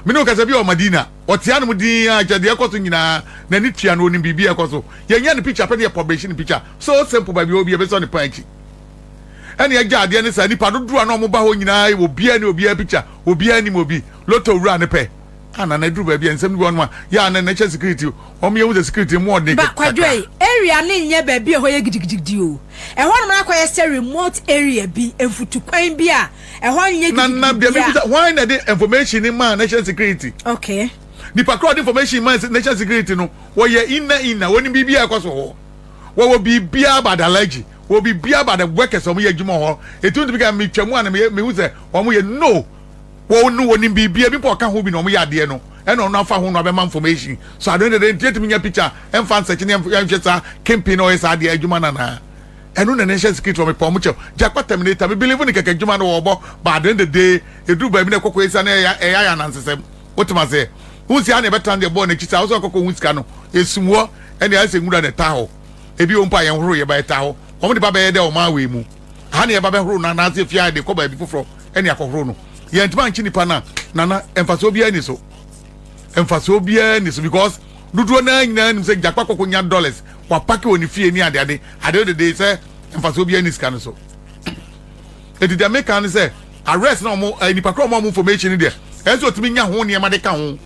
me ne okasa bi a ɔmadina ɔte anom din a kyɛ deɛ ɛkɔ so nyinaa n'ani tua no onim biribi a ɛkɔ so yɛn yɛ ne picture pɛ ne yɛ publish ne picture so simple baabi obi ɛbɛ sɔ ne pan akyi ɛne ɛgya adeɛ ne saa nipa dodoɔ a na ɔmo ba hɔ nyinaa obiara ne obiara picture obiara nim obi lotto wura ne pɛ Ana na ɛduru baabi a nsɛm bi wɔ hɔnom a yɛ a na na ɛhyɛ security wɔn yɛ hu sɛ security mu ɔden kakra. Ba Kwadwai area no nyɛ baabi a ɛhɔ yɛ gidigidigidi o. Ɛhɔnom no akɔyɛ sɛ remote area bi, mfutukwan bi a ɛhɔ nyɛ gidigidi biara. Na na deɛ mebisa, hwan na ɛde information no maa national security? Okay. Nipa korɔ a ɔde information maa national security no, wɔyɛ inner inner, wɔnim biribi a ɛkɔ so hɔ. Wɔwɔ biribi about allergy, wɔwɔ biribi about the workers a wɔyɛ adwuma hɔ. Ɛtumi tumi ka metwa mu a na mehu sɛ wɔyɛ no. Wɔn no wɔnim biribi ebi mpo ɔka ho bi na wɔn yɛ adeɛ no ɛna ɔno afa ho no abɛma information so ade no dede nti yɛtumi nya picture ɛmfa nsɛkye ne yɛnhwɛ saa kingpin no ɔyɛ saa adeɛ adwuma no anaa ɛno na ɛnhyɛ security wɔn mepɛ wɔn kyɛw gyakpa terminator me believe ne kɛkɛ adwuma no wɔbɔ ba ade no dede eduru baabi na ɛkɔkɔ esa na ɛyɛ ɛyɛ ayɛ anansesɛm wotem aseɛ wohu sɛ ha na ɛbɛtra deɛ bɔɔ n'akyi saa wosɛ ɔkɔkɔ ho sika no esum hɔ ɛne ayɛ sɛ nwura na ɛtaa hɔ ebi wɔ mpo a yɛn horo yɛ ba ɛtaa hɔ wɔn de ba bɛyɛ dɛ ɔman wei mu. ha na yɛba bɛhoro no anaasɛ fie a yɛde kɔ baabi foforɔ ɛne akɔhoro no yɛntumi ankye nipa no a nana mfasoɔ biara ni so mfasoɔ biara ni so because dodoɔ no ara nyinaa nim sɛ gyakpa kɔkɔ nya dollars wapake wɔ ne fie ne adeade adeɛ dede sɛ mfasoɔ biara ni sika no so ɛti deɛ meka ne sɛ arrest na ɔmo eh, nipa korɔ ɔmo ɔmo information no deɛ ɛsɛ ɔtumi nya ho nneɛma de ka ho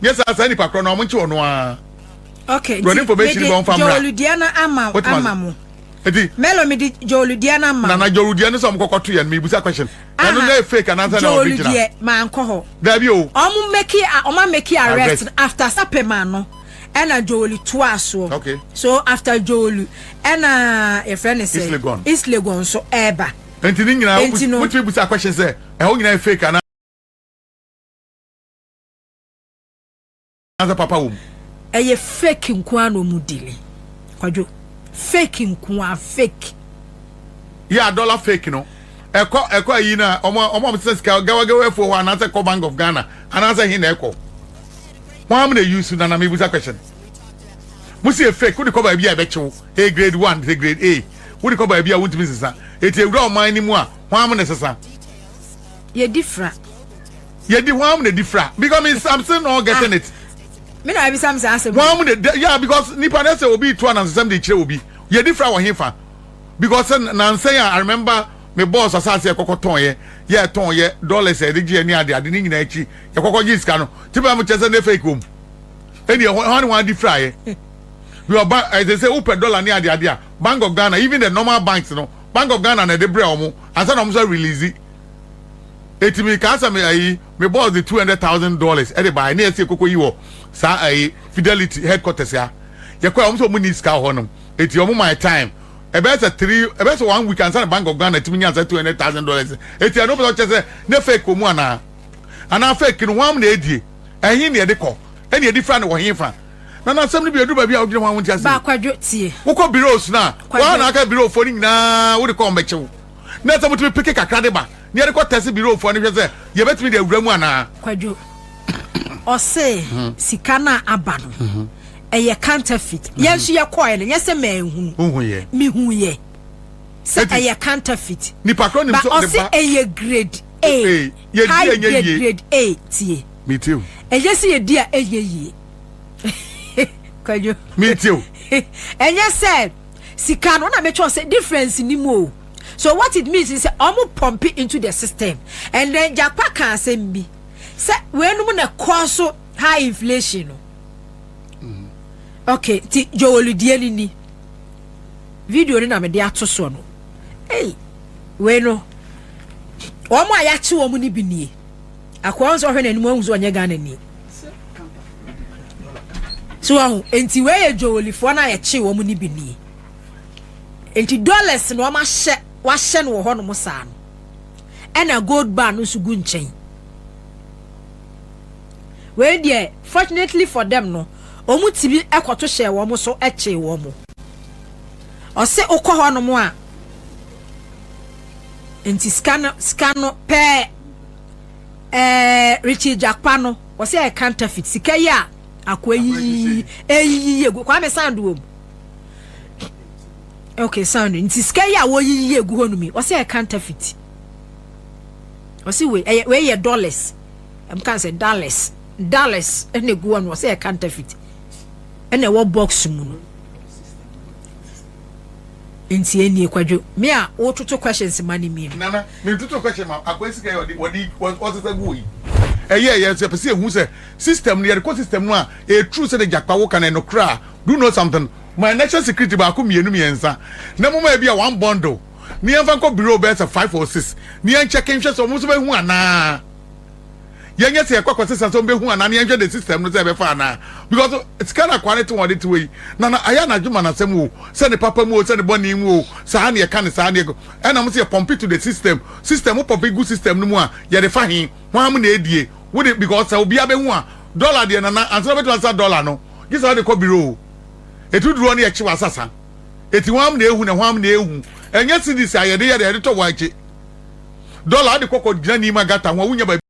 nyɛ saa saa nipa korɔ na ɔmo nkye ɔno ara okay, nti, information bɛ ɔmfa mmra. Jɔludiana ama ama mo. Eti. Melo mi di Joel diɛ na ma. Na na Joel diɛ no sɛ ɔmo kɔkɔ to yɛ no mi busa question. Ɛno na yɛ fake anaasɛ na ɔbi gyina. Joel diɛ ma nkɔ hɔ. Dabi o. Ɔmo meki a ɔmo ameki arrest no after sape ma no ɛna Joel to asoɔ. Okay. So after Joel ɛna yɛ fɛ ne sɛ. Islegon. Islegon so ɛɛba. Enti ne nyinaa. Enti no. Wotumi busa question sɛ ɛhɔ nyinaa yɛ fake ana. anaasɛ papa wɔ mu. Ɛyɛ fake nko ara na wɔn dealing. Kwadwo. Fake nko ara, fake. Yɛ a dollar fake no. Ɛkɔ ɛkɔ ayi na wɔn a wɔn a wɔsesa sika gawagawa afuo hɔ anaasɛ ɛkɔ Bank of Ghana anaasɛ he na ɛkɔ. Wɔn am na eyi su na na mebusa question. Mo si yɛ fake wode kɔ baabi a ɛbɛkye wo. Ɛyɛ grade one sɛ grade A. Wode kɔ baabi a wontumi nsesa. Eti ewura ɔman no mu a wɔn am na ɛsesa. Yɛdi fra. Yɛ di hwan mu na di fira because mi am still not getting it. Mi na ebisa mi saa asɛm. Hwan mu na yeah because nipa na sɛ obi tu anansesɛm de kyerɛ obi yɛ di fira wɔ he fa because sɛ nansɛn a I remember me boss asaase yɛ kɔkɔ tɔn yɛ yɛ tɔn yɛ dollars yɛ de gye yɛ ne ade ade ne nyinaa akyi yɛ kɔkɔ gye sika no ti bɛ mo kyɛ sɛ ne fake wɔm ɛni ɛhɔ hwan ne hwan di fira yɛ bi ɔba ɛsɛ sɛ wopɛ dollar ne ade ade a Bank of Ghana even the normal banks no Bank of Ghana na ɛde brɛ wɔn ansa na wɔn nso release. eti mi kaa sɛ me ayi me boss de two hundred thousand dollars ɛde baa ɛne ɛsi ekoko yi wɔ saa ayi fidelity headquarters ya yɛ kɔ a wɔn sɛ wɔn ni sika wɔ hɔ nom eti wɔn my time ɛbɛyɛ sɛ three ɛbɛyɛ sɛ one week ansa na bank of ghana tumi nya sɛ two hundred thousand dollars eti ɛno pɛ sɛ ɔkyɛ sɛ ne fake wɔ mu anaa anaa fake no wɔn na edie ɛhin na ɛde kɔ ɛna ɛde fira na wɔ hin fa na n'asɛm no bi edu baabi a wogyina ho a wɔn ti ase baakwadwo tie wokɔ biros na wɔn a na aka birofo no nyinaa wode kɔ wɔn bɛkyew. na sɛ motumi peke kakra de ba na yɛde kɔ tɛse birofoɔ no hwɛ sɛ yɛbɛtumi de awura mu anaa. Kwadwo, ɔse sika no a aba no ɛyɛ counterfeit, yɛn nso yɛkɔɔɛ no nyɛ sɛ manhunu, mehuuɛ sɛ ɛyɛ counterfeit, but ɔse ɛyɛ grade A, high grade, grade A, tie, ɛyɛ sɛ yɛdi a ɛnyɛ yie, Kwadwo, ɛnyɛ sɛ. Sika no na me kyerɛ sɛ difference ni mu o so what it means ni sɛ ɔmo pump into the system and then Gyakpa ka asɛm bi sɛ wei nom na ɛkɔɔ so high inflation no mm-hmm. okay ti jowolidie ni ni video no na me de ato soɔ no ei wei no wɔn a yɛakye wɔn no bi nie. Akoa nso ɔhwɛ n'anim ahu sɛ ɔnyɛ Ghana ni. So ɔho nti wei yɛ dwowolifoɔ no a yɛkye wɔn no bi nie. Nti dollars na wɔn ahyɛ wahyɛ no wɔ hɔnom saa no. Ɛna gold bar no nso gu nkyɛn. Wei deɛ fortunately for them no wɔn ti bi ɛkɔto hyɛ wɔn so ɛkye wɔn. Ɔse okɔ hɔnom a nti sika no sika no pɛɛ. Ɛɛ Richie Gyakpa no ɔsɛ ɛyɛ counterfeit sika yi a akoa yiyi eyiyi egu Kwame sound wɔ mu okay sound nti sika yi a wɔyiyi egu hɔ nom yi ɔsɛ ɛyɛ counterfeit ɔsɛ wei ɛyɛ wei yɛ dollars ɛm kan sɛ dollars dollars ɛna egu hɔ nom ɔsɛ ɛyɛ counterfeit ɛna ɛwɔ box mu no. Nti ɛnnie kwadwo me a wo toto questions ma no mmienu. Nana me toto question ma akwa sika yi ɔde ɔsesa gu hɔ yi ɛyɛ yɛ nso yɛpɛ sɛ yɛhu sɛ system no yɛde kɔ system no a ɛyɛ true sɛ de gyakpa wo ka no ɛnokorɛ a do you know something ma yɛ national security baako mmienu mmiɛnsa na mo ma ɛbi a one bundle ne yɛmfa nkɔ bureau bɛyɛ sɛ five or six ne yɛn check nhwɛ sɛ ɔmo nso bɛhu anaa. yɛnyɛ sɛ yɛkɔ akɔsesa sɛ ɔmbɛhu anaa ne yɛnhwɛ the system no sɛ ɛbɛfa anaa because sika no akoa no te wɔn ɔde te wɔ yi na na ayɛ anadwo ma n'asɛm o sɛ ne papa mu o sɛ ne bɔne mu o saa ne yɛka ne saa ne ɛna mo sɛ yɛ pɔmpe to the system system mo pɔmpe gu system no mu a yɛde fa he hwan mo na ɛdie wo de because sɛ obiara bɛhu a dɔla deɛ nana ansa na bɛtumi asesa dɔla no gye sɛ wode kɔ biro o ɛtu duruɔ no yɛkye w'asasa ɛti hwan mo na ɛhu na hwan mo na ɛhu ɛnyɛ cds a yɛde yɛde yɛde tɔ wɔn akyi Dollar ade kɔ kɔ gyina Nima gutter ho a wonnya baabi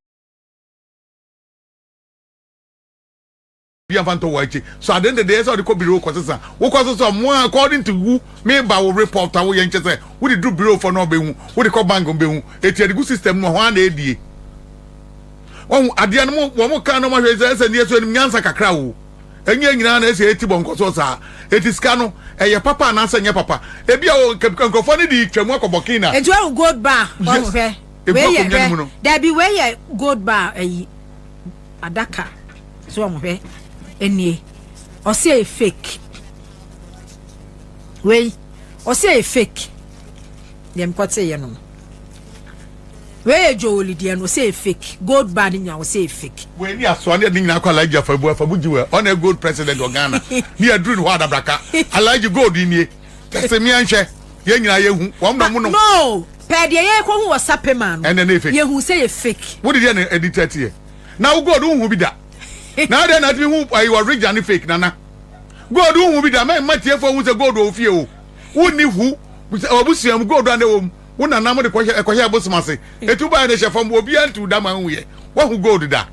a mfa ntɔ wɔ akyi so ade ndede ɛsɛ ɔde kɔ biro kɔ sesa wokɔ so sɛ ɔmo a according to wo me ba wo report a woyɛ nkyɛ sɛ wode duru biro fɔ na ɔbɛhu wode kɔ bank ɔbɛhu eti ɛde gu system no hɔ a na ɛdie wɔn adeɛ no wɔn kan na wɔn ahwɛ sɛ ɛsɛ ndeɛ so ɛnim nyansa kakra o. Ɛnyɛ nyinaa na ɛsɛ yɛte bɔnkɔ so saa. Enti sika no, ɛyɛ papa anaasɛ ɛnyɛ papa? Ebia o, nkurɔfoɔ no de twa mu akɔ Burkina. Enti wahu gold bar hɔ no? Hwɛ, wei yɛ, hwɛ, dabi, wei yɛ gold bar ayi, adaka. So wɔn hwɛ, ɛnie, ɔsi ɛyɛ fake. Wei, ɔsi ɛyɛ fake. Deɛ mekɔte yɛ no no. Wei yɛ Joel deɛ no ɔsɛ fake gold bar no nyina ɔsɛ fake. Wei ni asoa ne ɛde nyina akɔ alaji afabu afabu gyi wɛ ɔna gold president wɔ Ghana ne aduru ne hɔ adabraka alaji gold nie tɛse mia nhwɛ yɛ nyina yɛ hu wɔn na ɔmo nom. No pɛ deɛ yɛ kɔ hu wɔ sapema no ɛnɛ ne fake yɛ hu sɛ yɛ fake. Wo de deɛ na ɛdi tɛte yɛ na wo gold wo hu bi da na adɛ na atumi hu ayi wɔ rigya ne fake nana gold wo hu bi da mɛ mma tie fo hu sɛ gold wɔ ofie o wo ni hu wɔ busuam gold ane wɔ mu. wo nana mo de kɔhyɛ ɛkɔhyɛ ɛbosom ase etu baayɛ na ehyɛ fam obiara ntu da ma ehu yɛ wahu gold da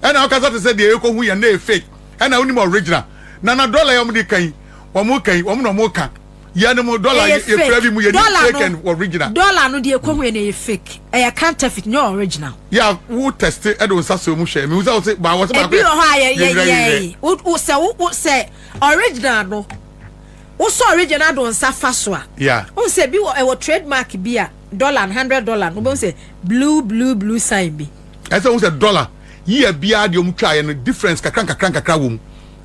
ɛna ɔkasa te sɛ deɛ ekohu yɛ na yɛ fake ɛna onim original nana dollar yɛ wɔn de kan wɔn kan wɔn na wɔn ka yɛ no mo dollar yɛ fira bi mu yɛ ni fake and original dollar no deɛ ekohu yɛ na yɛ fake ɛyɛ counterfeit nyɛ original yɛ wo test ɛde nsa so emu hwɛ mi wusa wɔsi ba wɔsi ba ebi wɔ hɔ a yɛ yɛ yɛ wo sɛ wo sɛ original no. Wo sɔɔ regye na do nsa fa so a. Yeah. Wohu sɛ bi wɔ ɛwɔ trade mark bi a dollar no hundred dollar no wobɛhu sɛ blue blue blue sign bi. Ɛsɛ wohu sɛ dollar year biara deɛ wɔn twa yɛ no difference kakra nkakra nkakra wɔ mu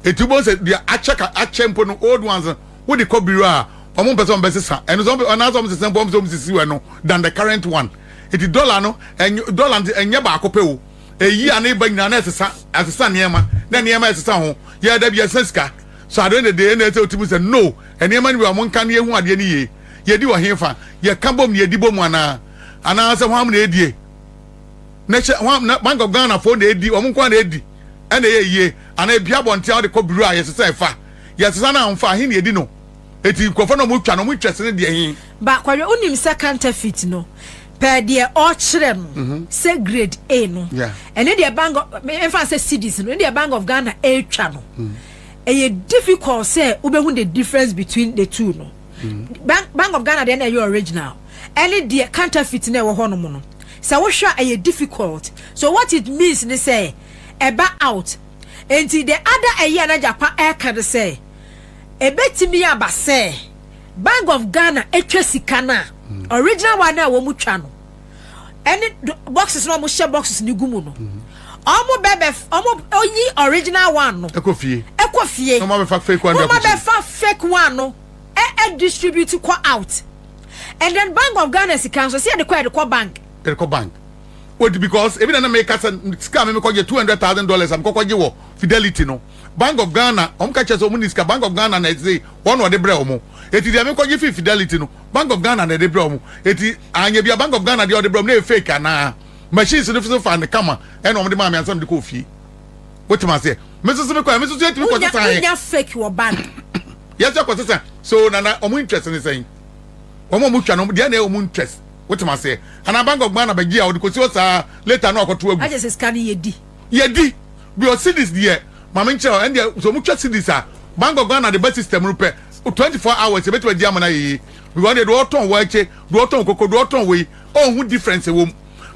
eti wobɛhu sɛ deɛ akyɛ ka akyɛ mpo no old ones no wode kɔ biro a wɔn mpɛ sɛ wɔn bɛsesa ɛno sɛ wɔn anaasɛ wɔn sesa mpo wɔn sɛ wɔn sisi wɔ ɛno than the current one eti dollar no ɛnyɛ dollar no ɛnyɛ baako pɛ o eyi a na eba nyinaa na ɛsesa ɛsesa nneɛma na nneɛma ɛsesa ho yɛ dabi ɛsesa sika. So adwene dede na ɛsɛ sɛ otumi sɛ, No, nneɛma no bi wɔ hɔ a monka na yehu adeɛ no yie? Yedi wɔ hefa? Yɛka bom na yedi bom anaa? Anaasɛ hwannom na edie? Na hyɛ hwan na Bank of Ghana foɔ na edi? Wɔn nko ara na edi? Ɛna ɛyɛ yie? Anaa ebi abɔnten a wode kɔ bureau a yɛsesa ɛfa? Yɛsesa na wɔmfa a, he na edi no? Enti nkurɔfoɔ no a wɔtwa no, wɔtwa sene deɛ he? Ba, kɔhwɛ, wonim sɛ counterfeit no. pɛ deɛ ɔkyerɛ no sɛ grade A no ɛne deɛ bank ɛmfa sɛ cedis no ne deɛ bank of Ghana ɛretwa no ɛyɛ difficult sɛ wobɛhu the difference between the two no bank, bank of Ghana deɛ na ɛyɛ original ɛne deɛ counterfeit na ɛwɔ hɔ nom no sɛ wohwɛ a ɛyɛ difficult so what it means ne sɛ ɛba out nti the other ɛyɛ na gyapa ɛka no sɛ ɛbɛtumi aba sɛ Bank of Ghana twa sika no a, mm. original one a wɔn twa no ɛne boxes na wɔn hyɛ boxes no gu mu no mm. wɔn bɛbɛ wɔn oyi original one no ɛkɔ fie ɛkɔ fie na wɔn abɛfa fake one no wɔn abɛfa fake one no ɛɛ distribute kɔ out and then Bank of Ghana sika nso si yɛ de kɔ yɛ de kɔ bank yɛ de kɔ bank wodi because ebi na na meka sɛ sika mi mekɔgye two hundred thousand dollars a mekɔkɔgye wɔ fidelity no Bank of Ghana wɔn ka kyerɛ sɛ wɔn ni sika Bank of Ghana na ɛsɛ wɔn na wɔde brɛ wɔn eti deɛ mi kɔgye fi Fidelity no Bank of Ghana na ɛde brɛ wɔn eti anyɛ bia Bank of Ghana deɛ wɔde brɛ wɔn no yɛ fake anaa machines no nso fa no kama ɛna wɔn de maa mi ansa mi de kɔ ofie wotem aseɛ mi nso so mi kɔ mi nso so etimi kɔ sisan yɛ wonya fake wɔ bank yɛsɛ kɔ sisan so nana wɔn interest ne sɛn wɔn a wɔn twa no deɛ na yɛ wɔn interest wotem aseɛ ana Bank of Ghana bɛgye a wɔde kɔ si hɔ saa later no akɔto agu. Agye sɛ sika no yɛ di. Yɛdi. Bio cedis deɛ ma me nkyerɛ hɔ ɛndeɛ sɛ ɔmo twa cedis a bank of Ghana de ba system no pɛ twenty four hours yɛbɛtumi agye ama no ayɛ yie because ɔdeɛ deɛ ɔtɔn waakye deɛ ɔtɔn koko deɛ ɔtɔn wei ɔnhu difference ɛwɔ mu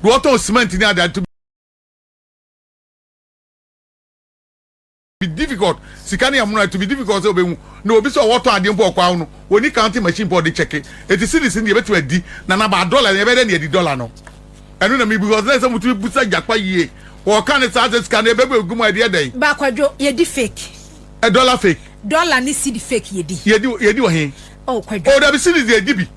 deɛ ɔtɔn cement ne adeade be difficult sika ne ɛmono it will be difficult sɛ ɔbɛhu na obi sɛ ɔwɔ tɔn adeɛ mpo ɔkɔ awo no ɔni counting machine mpo ɔde kyɛke eti series no deɛ ɛbɛtumi adi na na baa dollar no ɛbɛyɛ dɛ ne adi dollar no ɛno na mebu because na ɛsɛ motumi busa gyakpa yie wɔka ne saa sɛ sika no ɛbɛbu egu mu a ɛdeɛ dɛn. Ba kwadwo yɛdi fake. Ɛ dollar fake. Dollar ne cedi fake yɛdi. Yɛdi yɛdi wɔ he. Oh kwadwo. Oh dabi cities deɛ gye bi.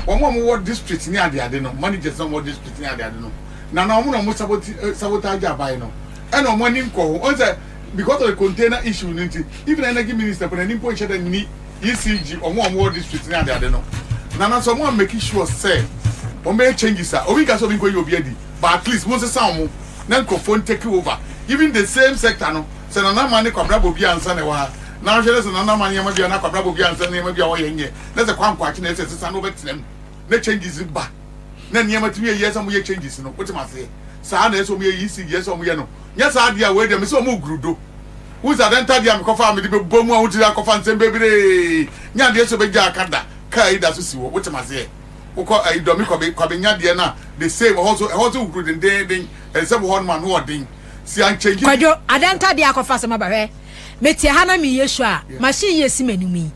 Wɔn a wɔwɔ district ne adeade no managers na wɔwɔ district ne adeade no na na wɔn na wɔn sabotage sabotage aban no ɛna wɔn ani nkɔ ho wɔn sɛ because of the container issue no nti even energy minister mpo n'ani mpo nhyɛ da nni ECG wɔn a wɔwɔ district ne adeade no na na sɛ wɔn a make sure sɛ wɔn bɛyɛ changes a obi nka sɛ obi nkɔ yi obi adi but at least wɔn nsesa wɔn na nkurɔfoɔ ntake over even the same sector no. Sɛ Nana Aman ne Kwabena Bawubi ansa na ɛwɔ ha, na wohwɛ na sɛ Nana Aman nneɛma bi anaa Kwabena Bawubi ansa nneɛma bi a wɔyɛ nyɛ, na sɛ Kwankwa Akye na ɛsɛ sesa na ɔbɛtena mu na changes no ba, na nneɛma tumi yɛ yie ɛsɛ sɛ wɔyɛ changes no. Wote m'aseɛ? Saa na ɛsɛ sɛ wɔyɛ EC deɛ ɛsɛ sɛ wɔyɛ no. Nyɛ saa deɛ a, wei deɛ mese wɔregoro do. Wohu sɛ Adenta deɛ a mekɔfa a mede bɛbɔ mu a wotiri akɔfa nsɛm bebree nyɛ adeɛ sɛ ɔbɛgya aka da, car yi da so si hɔ. Wote m'aseɛ? Wokɔ ayi Dɔmi Kwabe Kwabe Nya deɛ no a, the same, ɛhɔ nso, ɛhɔ nso huru dendeenden, ɛnsɛ wɔ hɔnom a ano ɔden. Kwadwo, adan ntadeɛ akɔfa sɛ maba hwɛ me te ha na me yɛ show a machine yɛ si m'anim yi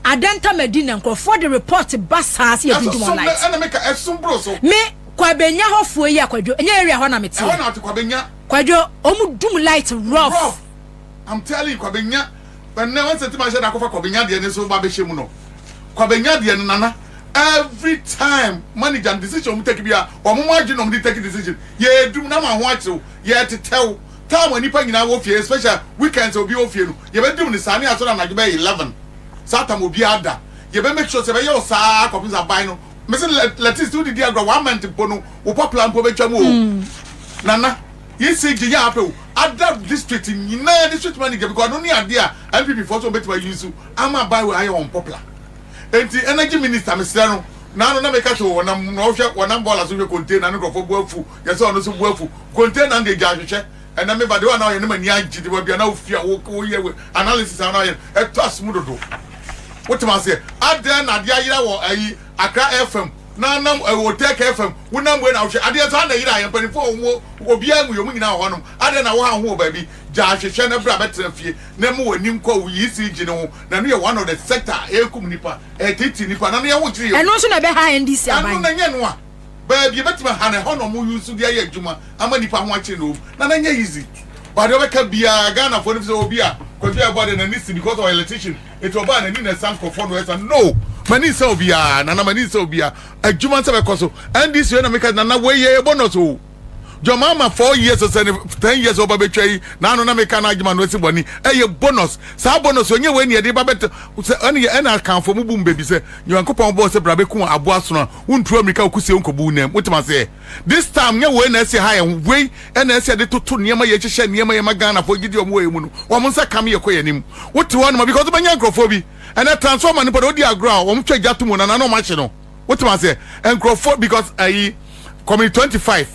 adan nta madi na nkurɔfoɔ de report ba saa sɛ yɛ tuntum online me kwabenya hɔfoɔ yi akwadwo ɛnyɛ area hɔ na me te kwadwo ɔmo dum light rough I'm telling you kwabenya ɛnɛ wɔn sɛ ti ma hyɛ da akɔfa kwabenya deɛ ne so ba bɛhyɛ mu no kwabenya deɛ no nana every time manager no decision wɔn take bia wɔn mo adwene na wɔn de take decision yɛ edum na ma ho akyew yɛ tetɛw time a nipa nyinaa wɔ fie special weekends a obi wɔ fie no yɛ bɛ dum ne saa ne asɔre anadwo bɛyɛ eleven saa tam obi ada yɛ bɛ make sure sɛ bɛyɛ ɔsaa akɔpem sɛ aban no mesi lɛ lɛtis ti o didi agorɔ one month mpo no wo papla mpo bɛtwa mu o nana. ECG yɛ apew ada district nyinaa district manager because ɛno ne adeɛ a NPP foɔ nso wɔbɛtumi ayi nso ama aban wei ayɛ wɔn popular nti energy minister mesrɛ no naano na meka sɛ wɔnam na ɔhwɛ wɔnam bɔɔla so hwɛ container no nkurɔfoɔ bu afu yɛ sɛ ɔno nso bu afu container no deɛ gya ahwehwɛ ɛnɛ meba deɛ ɔna ɔyɛ ne ma ni agye de baabi a na wofia woyɛ we analysis a na ɔyɛ ɛtɔ asom dodo wotema aseɛ adɛn na adeɛ ayera wɔ ayi Accra FM na nam ɛwɔ Tech FM wo nam wei na wohwɛ adeɛ saa na ɛyera yɛ mpanimfoɔ a wɔn wɔ obiara nwui wɔn nyinaa wɔ hɔ nom adɛn na wohaw ho wɔ baabi gya ahwehwɛ na bra bɛtena fie na mu w'ani nkɔ wo ECG no ho na ɛno yɛ one of the sector a ɛrekum nnipa ɛretiti nnipa na no yɛho kyere yɛ. Ɛno nso na ɛbɛha NDC aban. Ɛno na ɛnyɛ ɛno a baabi ɛbɛtumi aha no ɛhɔ na wɔn use de ayɛ adwuma ama nnipa ho akyere na wɔn na no nyɛ easy but deɛ ɔbɛka biara Ghanafoɔ no fi sɛ obi a Kwadwo a ɛbɔ adeɛ n'ani si because ɔyɛ electrician Enti ɔbaa n'ani na ɛsa nkurɔfoɔ no ɛsa no m'ani nsa obiara nana m'ani nsa obiara adwuma nsa bɛkɔ so ndc yɛ na meka nana wei yɛ yɛ bonus o John Mahama four years sɛ ne ten years ɔba bɛtwa yi n'ano na meka no adwuma no asi bɔne ɛyɛ bonus saa bonus ɔnyɛ wei ne yɛde ba bɛtɛ sɛ ɛne yɛ ɛna akanfoɔ mu bu mu baabi sɛ nyankopɔn bɔɔ sɛ bra bɛku aboa sono a wontuo mmirika wokusie wonkɔbu wo nam wotem aseɛ This time nyɛ wei na ɛsɛ ha yɛn ho wei ɛna ɛsɛ yɛde toto nneɛma yɛ hyehyɛ nneɛma yɛ ma Ghana fo gyidi wɔn wɔ yɛn mu no wɔn nsa kam yɛ kɔ yɛn anim wote hɔ anoma because bɛnya nkurɔfoɔ bi ɛnɛ transformer no pɔ na odi agorɔ a wɔn twa gya to mu na na na wɔn ahye no wote ma sɛ nkurɔfoɔ because ayi community twenty five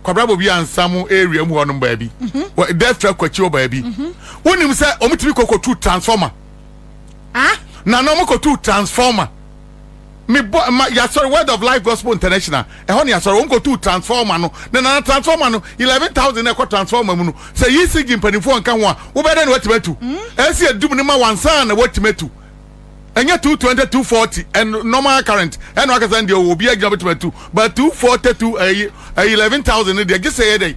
kwabra bobi ansa mu area mu hɔ nom baabi wɔ dɛfra kwakyi wɔ baabi wonim sɛ wɔn tumi kɔ kɔ tu transformer ah na na wɔn kɔ tu transformer. mebɔ ma yasɔre word of life gospel international ɛhɔ ne yasɔre wɔn kɔtu transformer no na nana transformer no eleven thousand na ɛkɔ transformer mu no sɛ yi si gye mpanimfoɔ nka ho a wobɛyɛ dɛ na watumi atu ɛsi adum no ma wansan na watumi atu ɛnyɛ two twenty two forty and normal current ɛna wakasa deɛ obi agyina bɛtumi atu but two forty two ɛyi ɛyi eleven thousand no deɛ gye sɛ yɛ dɛ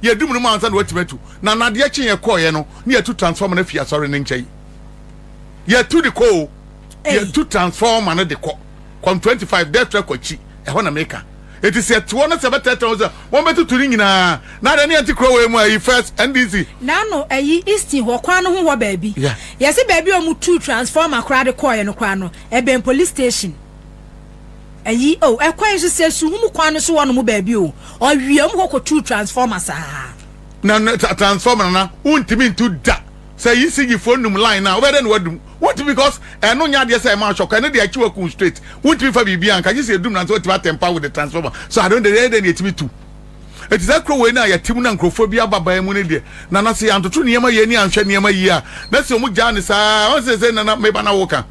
Yɛadum no mu ansa na watumi atu. Na nadeɛ kye yɛn kɔɔeɛ no, ne yɛatu transformer no afi asɔre no nkyɛn. Yɛatu de kɔ o. Yɛatu transformer no de kɔ. Kɔm 25, Dɛtra kɔ akyi. Ɛhɔ na meka. Enti sɛ ɛte hɔ na sɛ bɛtɛtɛ ho sɛ wɔbɛtutu ne nyinaa, na adeɛ ne yɛnte kuro wei mu a, ayi first, NDC. N'ano, ayi, Easton hɔ kwan no ho hɔ baabi. Yɛse baabi a wɔtuu transformer koraa de kɔɔeɛ no koraa no, ɛbɛn police station. ayi o oh, ɛkwan nso sɛ su wɔn kwan no so wɔ nom baabi o ɔwie wɔn kɔ kɔtu transformer saa. na transformer na wontumi ntu da sɛ yi si yi fo num line na wobɛ dɛ na wadum wontumi because ɛno nyɛ adeɛ sɛ ɛma ahwɛ kɔ ɛno deɛ akyi wakun straight wontumi fa biribi anka gye sɛ edum na nso watumi atɛmpa with the transformer so adon deɛ ɛyɛ dɛ na etumi tu eti sɛ kuro wei na yɛte mu na nkurɔfoɔ bi aba ban mu ne deɛ na na sɛ yɛantoto nneɛma yie ne anhwɛ nneɛma yie a na sɛ wɔn gyaa ne saa wɔn sɛ sɛ nana meba na woka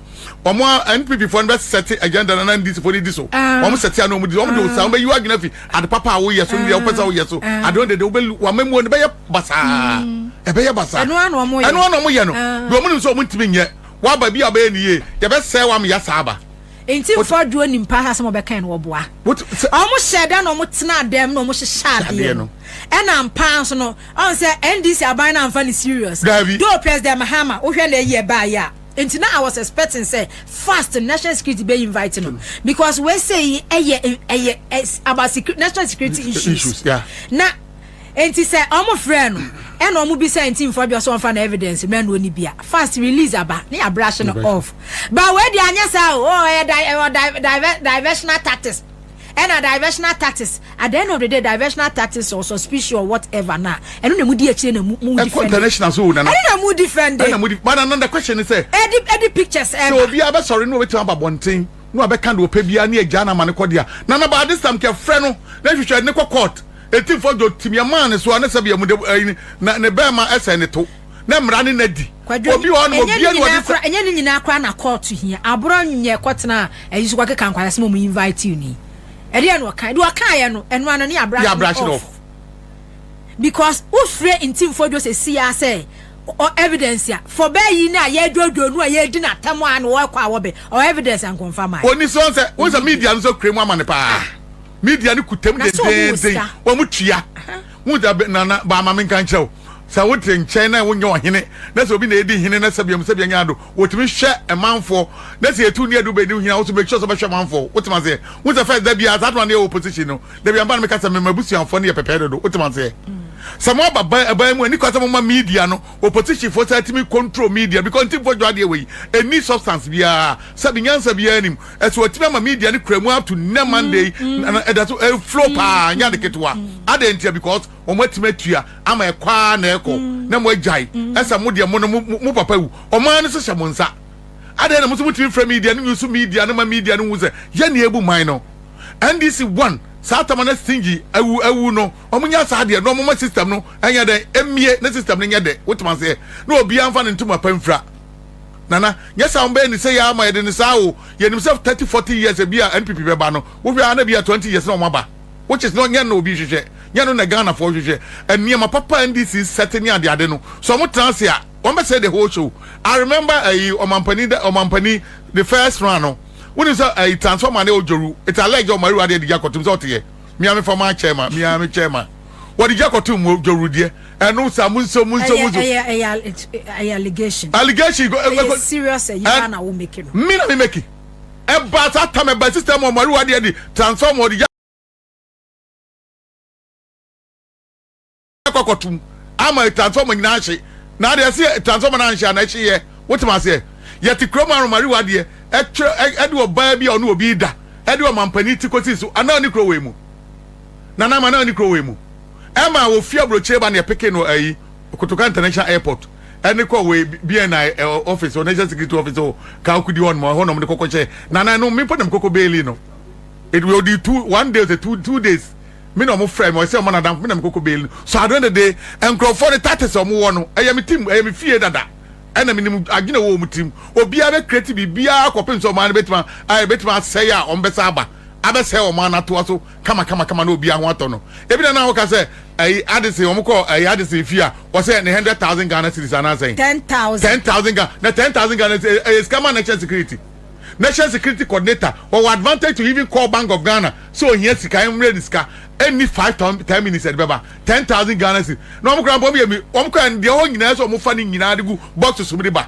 wɔn a npp foɔ no bɛ sɛte agenda na na ndc foɔ no di so wɔn sɛte ano wɔn di wɔn de o saa wɔn bɛ yi adwene fi ade papa a wɔyɛ so nea wɔpɛ sɛ wɔyɛ so ade wɔn dede wɔbɛ wɔn mɛ mu wɔn bɛyɛ basaa ɛbɛyɛ basaa ɛno ano wɔn yɛ ɛno ano wɔn yɛ no deɛ wɔn nim sɛ wɔn ntumi nyɛ waba bi a wɔbɛyɛ ne yie deɛ bɛ sɛ wɔn yɛ saa ba. nti nfa aduo nim paa asɛm ɔbɛka no wɔboa ɔmo hyɛ da na ɔmo tena dɛm na ɔmo hyehyɛ adeɛ no ɛna mpaa nso no ɔn sɛ ndc aban na nfa ne serious do president mahama wohwɛ na ɛyɛ baayɛ a Nti na I was expecting sɛ fast national security bɛ invite no because wei sɛ yi ɛyɛ ɛyɛ about security national security eh, issues. issues yeah. Na nti sɛ ɔmo frɛ no ɛna ɔmo bi sɛ nti nfa bi ɔsɛ ɔnfa na evidence mɛ na oni bia fast release aba ne abrashe no off. Ba wei di anya saa o ɔyɛ oh, di ɔyɛ eh, oh, diversional tactics. Ɛna diversional tactics at the end of the day diversional tactics or suspicion or whatever na ɛno na mu di akyire na mu mu defend. Ɛkɔ international so nana. Ɛno na mu defend. Ɛna mu di but nana the question is sɛ. Ɛdi ɛdi pictures ɛba. Sɛ obi abɛ sɔre na obetumi aba bɔnten na wabɛ kan de ɔpɛ bia ne ɛgya na ama ne kɔ dia nana ba this time kɛ frɛ no na hwehwɛ ne kɔ court etinfo dwo timiɛ maa ne so a ne sɛ bia mu de ɛyi na ne bɛɛma ɛsɛ ne to. na mmara ne na di. Kwadwo, Obi wɔ hɔ nom, ɛnyɛ ne obia ne nyinaa wɔde kora, ɛnyɛ ne nyinaa kora na kɔɔto hia. Aborɔ nyɛ kɔtena ayi so kɔkeka nkwasasɛm a wɔn invite wo ni. Ɛdeɛ na ɔkae, deɛ ɔkaeɛ no, ɛno ara no ne abrahye Yɛabrahye no no off. off. Because wofrɛ Ntimfoɔ Adwo seesei ara sɛ ɔ evidence a, for bɛɛ yi no a yɛredwoodwoo no a yɛredi no atɛm a na ɔrekɔ a wɔbɛ, ɔ evidence anka ɔmfa mmaeɛ. Ɔnni so, wohu sɛ, wohu sɛ Ɔnni bi. media no nso kura mu ama no paa. Ah. Media no kuta mu Na sɛ ɔmo wɔ dendeenden, sika. wɔn tua. Aha. Wohu sɛ, bɛ- Nana, ba ma menka nkyerɛ wo. Sɛ wote nkyɛn na wonyɛ ɔhene na sɛ obi na edi hene na sɛbea mu sɛbea nya ado, wotumi hwɛ manfoɔ na sɛ etu nni adu bɛn ne ho hia wo so make sure sɛ wobɛhwɛ manfoɔ. Wotem aseɛ? Wohu sɛ first da biara saa adwuma no yɛ wɔ position no da biara meba no meka sɛ me m'abusuafoɔ no yɛ pɛpɛɛ dodo. Wotem aseɛ? Sɛ mo aba ba ɛban mu a ɛni kwan sɛ moma media no wɔ position foɔ saa tumi control media because ntimfoɔ dwa adeɛ wei ɛnni substance biara sɛbe nyansa biara nim ɛso atumi ama media no kura mu up to nnɛ Monday na ɛda so ɛflow paa nyɛ ade ketewa adɛn ntia because wɔn atumi atua ama ɛkɔ ara na ɛkɔ mm. na mo agyae mm. ɛsɛ mo deɛ mo no mo papa wu wɔn ara no so hyɛ mo nsa adeɛ na mo nso mo tumi fira media no nyusu media no ma media no hu sɛ yɛ nea ebu man no ndc one saa tama na stingy awu awu no wɔn nyɛ saa adeɛ na wɔn ma system no ɛnyɛ dɛ emie ne system no nyɛ dɛ wotuma seɛ na obiara nfa ne ntoma pa nfira nana nyɛ saa wɔn bɛyɛ ne sɛ yɛ ama yɛ de ne saa o yɛ nim sɛ thirty forty years ebi a npp bɛba no wohwɛ ara na bi a twenty years na wɔn aba. which is not nyɛ na obi hwehwɛ nyɛ no na Ghana foɔ hwehwɛ nneɛma papa NDC sɛte ne ade ade no so wɔn tena ase a wɔn bɛ sɛ the whole show I remember ayi ɔmampanin da ɔmampanin the first round no wonim sɛ ayi transformer ne ɔdworu it's alleged ɔmo awura deɛ de gya kɔtum sɛ ɔteyɛ mia mefa maa kyɛɛ ma mia me kyɛɛ ma wɔde gya kɔtum mo dworu deɛ ɛno saa mo nso mo nso mo nso ɛyɛ ɛyɛ ɛyɛ allegation allegation ɛyɛ serious ɛyi ba na wo make no mi na mi make ɛbaa saa tam ɛbaa sista mu ɔmo arewa deɛ de transfer ɔmo ɔde gya kɔkɔtum ama transfer ɔmo nyinaa hye na adeɛ se transfer ɔmo na anhyɛ ana ɛhye yɛ wotem aseɛ yɛte kuro mu ara ɔmo arewa deɛ ɛtwerɛ ɛde ɔbaa bi a ɔne obi da ɛde ɔmampanin ti kɔsi so anaa ne kuro wei mu nana ama anaa ne kuro wei mu ɛma ofie aburokyire ba ne ɛpeke no ayi. Kotoka International Airport ɛne kɔ wei BNI eh, office or National Security Office or Kaukudi one more hɔ nom de kɔkɔ kyɛ na na no mpo nam kɔkɔ baili no it will be two one day or two two days me na ɔmo frɛ me ɔsɛ ɔmo na dam me nam kɔkɔ baili so adwene dede nkurɔfoɔ ne tatis ɔmo wɔ no ɛyɛ me tim ɛyɛ me fie dada ɛna menim adwene wɔ ɔmo tirim obiara bɛ kreti biribiara kɔpem sɛ ɔmo ano bɛtuma ayɛ bɛtuma asɛe a ɔmo bɛsa aba abɛsɛe ɔmo anatoa so kama kama kama na obiara ho atɔ no ebi na na ɔka sɛ ɛyi adesɛn wɔn kɔ ɛyi adesɛn fie a wɔsɛ ne hundred thousand ghana series anaasɛn ten thousand ten thousand ghana na ten thousand ghana series ɛyɛ sika ma national security national security coordinator wɔwɔ advantage to even call bank of ghana sɛ ohia sika ɛmmerɛ ne sika ɛnni five ten minutes ɛde bɛba ten thousand ghana series na wɔn kora mpɔm yɛ mi wɔn kora deɛ hɔ nyinaa sɛ wɔn fa ne nyinaa de gu box so de ba.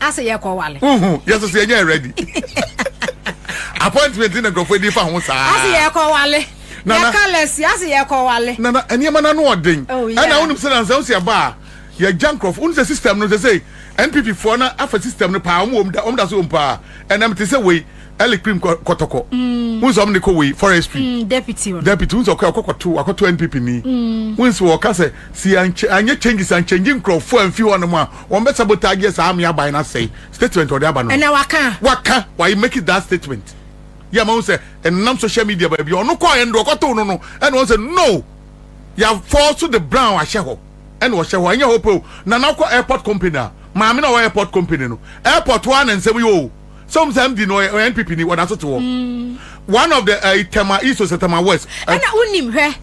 ase yɛ kɔ wale. uhu yɛ soso yɛ nyɛ ready appointment na nkurɔfoɔ adi fa ho saa. ase yɛ kɔ wale. nana yɛ kalɛsi ase yɛ kɔ wale. nana nneɛma na no ɔden. oh yeah ɛna wɔn sɛ na nsɛm sɛ ɛba a yɛ gya nkurɔfoɔ wɔn sɛ system no sɛ sɛ npp foɔ na afa system no paa wɔn wɔn da wɔn da so wɔn paa ɛnam te sɛ wei. Eli cream kɔtɔkɔ. Mm. Wunso ɔmo de kɔ wei forestry. Mm, deputy ɔno. Deputy wunso ɔkɔ akɔkɔto akɔto NPP ni. Mm. Wunso wɔka sɛ si ankyɛ anyɛ changes ankyɛnji nkurɔfoɔ anfi hɔ nom a wɔn bɛ sabotage saa ame aban na sɛe statement ɔde aba no. Ɛna waka. Waka wayi make it that statement. Yɛ ama wunso ɛnam social media baabi ɔno kɔ ɛnde ɔkɔto no no ɛna wɔn sɛ no ya fall so the brown ahyɛ hɔ ɛna ɔhyɛ hɔ ɛnyɛ hɔ pɛ o nana kɔ airport company a maame na ɔwɔ airport company no airport wa na nsɛm yi o. sɛ wɔn sɛ mp no ɔyɛ npp ni wɔda so te hɔ mm. one of the ɛyi eh, tɛma east ɔsɛ tɛma west. ɛna eh, wonim hwɛ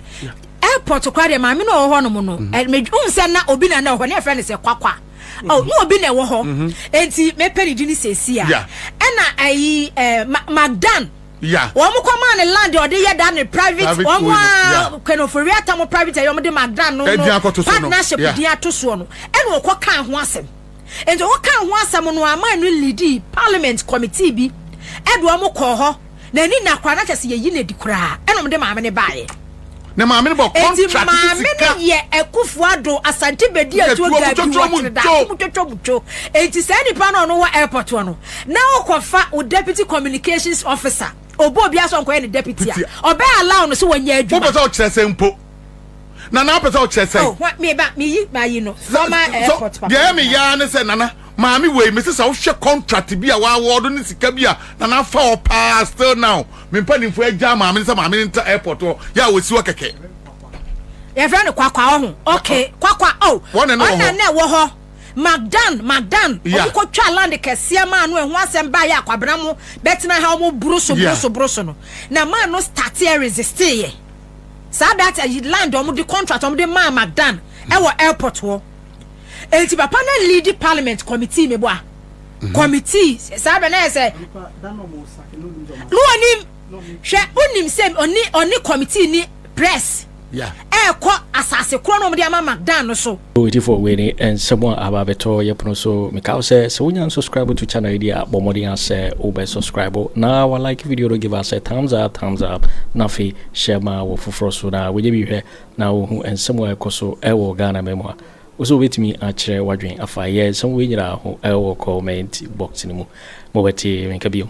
airport kora deɛ maame na ɔwɔ hɔ nom no mm-hmm. eh, ɛhun sɛ na obi na na ɔhɔ ne yɛfrɛ no sɛ kwakwa mm-hmm. oh, na obi na ɛwɔ hɔ mm-hmm. eti mepɛ ne di ne sɛsi a ɛna ɛyi ɛɛ magdan wɔn kɔ maa ne land ɔde yɛ da ne private wɔn a kwenofori atam private ɛyɛ wɔn de magdan no no partnership di ato soɔ no ɛna ɔkɔ kan ho asɛm. Enti wɔkaa ho asɛm no ara maa no liidii Parliament Committee bi de wɔn kɔɔ hɔ, na ani nna koraa, na kyerɛ sɛ yɛayi no adi koraa, ɛna wɔde maame no baeɛ. Na maame no bɔ contract sika. Enti maame no yɛ Akufo Addo, Asante Bedi Atuo Gabi, Wɔtere Daako mu Twotwo Butwo. Enti saa nipa no a ɔno wɔ airport hɔ no, na wokɔfa wo Deputy Communications Officer, ɔbɔ obiara sɛ ɔnkɔyɛ ne deputy a, ɔbɛ allow no sɛ ɔnyɛ adwuma. Wopɛ sɛ ɔkyerɛ sɛ mpo. nana apɛ sɛ ɔkyerɛ sɛn. oh hwa meba meyi mayi no former airport papa deɛ ɛyɛ me yaa ne sɛ nana maame wei mese sɛ wohwɛ contract bi a wɔawɔdo ne sika bi a nana afa hɔ paa still now me mpanimfoɔ agya maame ne sɛ maame ne ntra airport hɔ yɛ a wɔsi hɔ kɛkɛ yɛfrɛ no kwakwa ɔho okay kwakwa oh ɔna na ɛwɔ hɔ magdan magdan ɔmo kɔ twa land kɛseɛ maa no ɛho asɛm baa yɛ akwabena mo bɛtena ha ɔmo buru so buru so buru so no na maa no start yɛ resiste yɛ. saa that ayi eh, land wɔn de contract wɔn de maa Magdan ɛwɔ eh, airport hɔ eti papa na lead parliament committee mi bɔ a mhm. committee saa bɛ na yɛ sɛ no wɔn nim hwɛ onim sɛ ɔne ɔne committee ni press ɛɛkɔ asase korɔ na wɔn de ama Magdan no so. Yo Gyefo wei ne nsɛm a aba abɛtɔ yɛ pono so. Meka wo sɛ, sɛ wonya nsubscribe to channel yi deɛ a, bɔ mmɔden ara sɛ wobɛ subscribe na wa like video no give us a thumbs up thumbs up na afei share ma wɔ foforɔ so na wɔnyɛ bi hwɛ na wɔhu nsɛm a ɛkɔ so ɛwɔ Ghana ma mu a wo sɛ wobɛtumi akyerɛ wadwen afa yɛ nsɛm wei nyinaa ho ɛwɔ comment box no mu. Mobɛte me nka bio.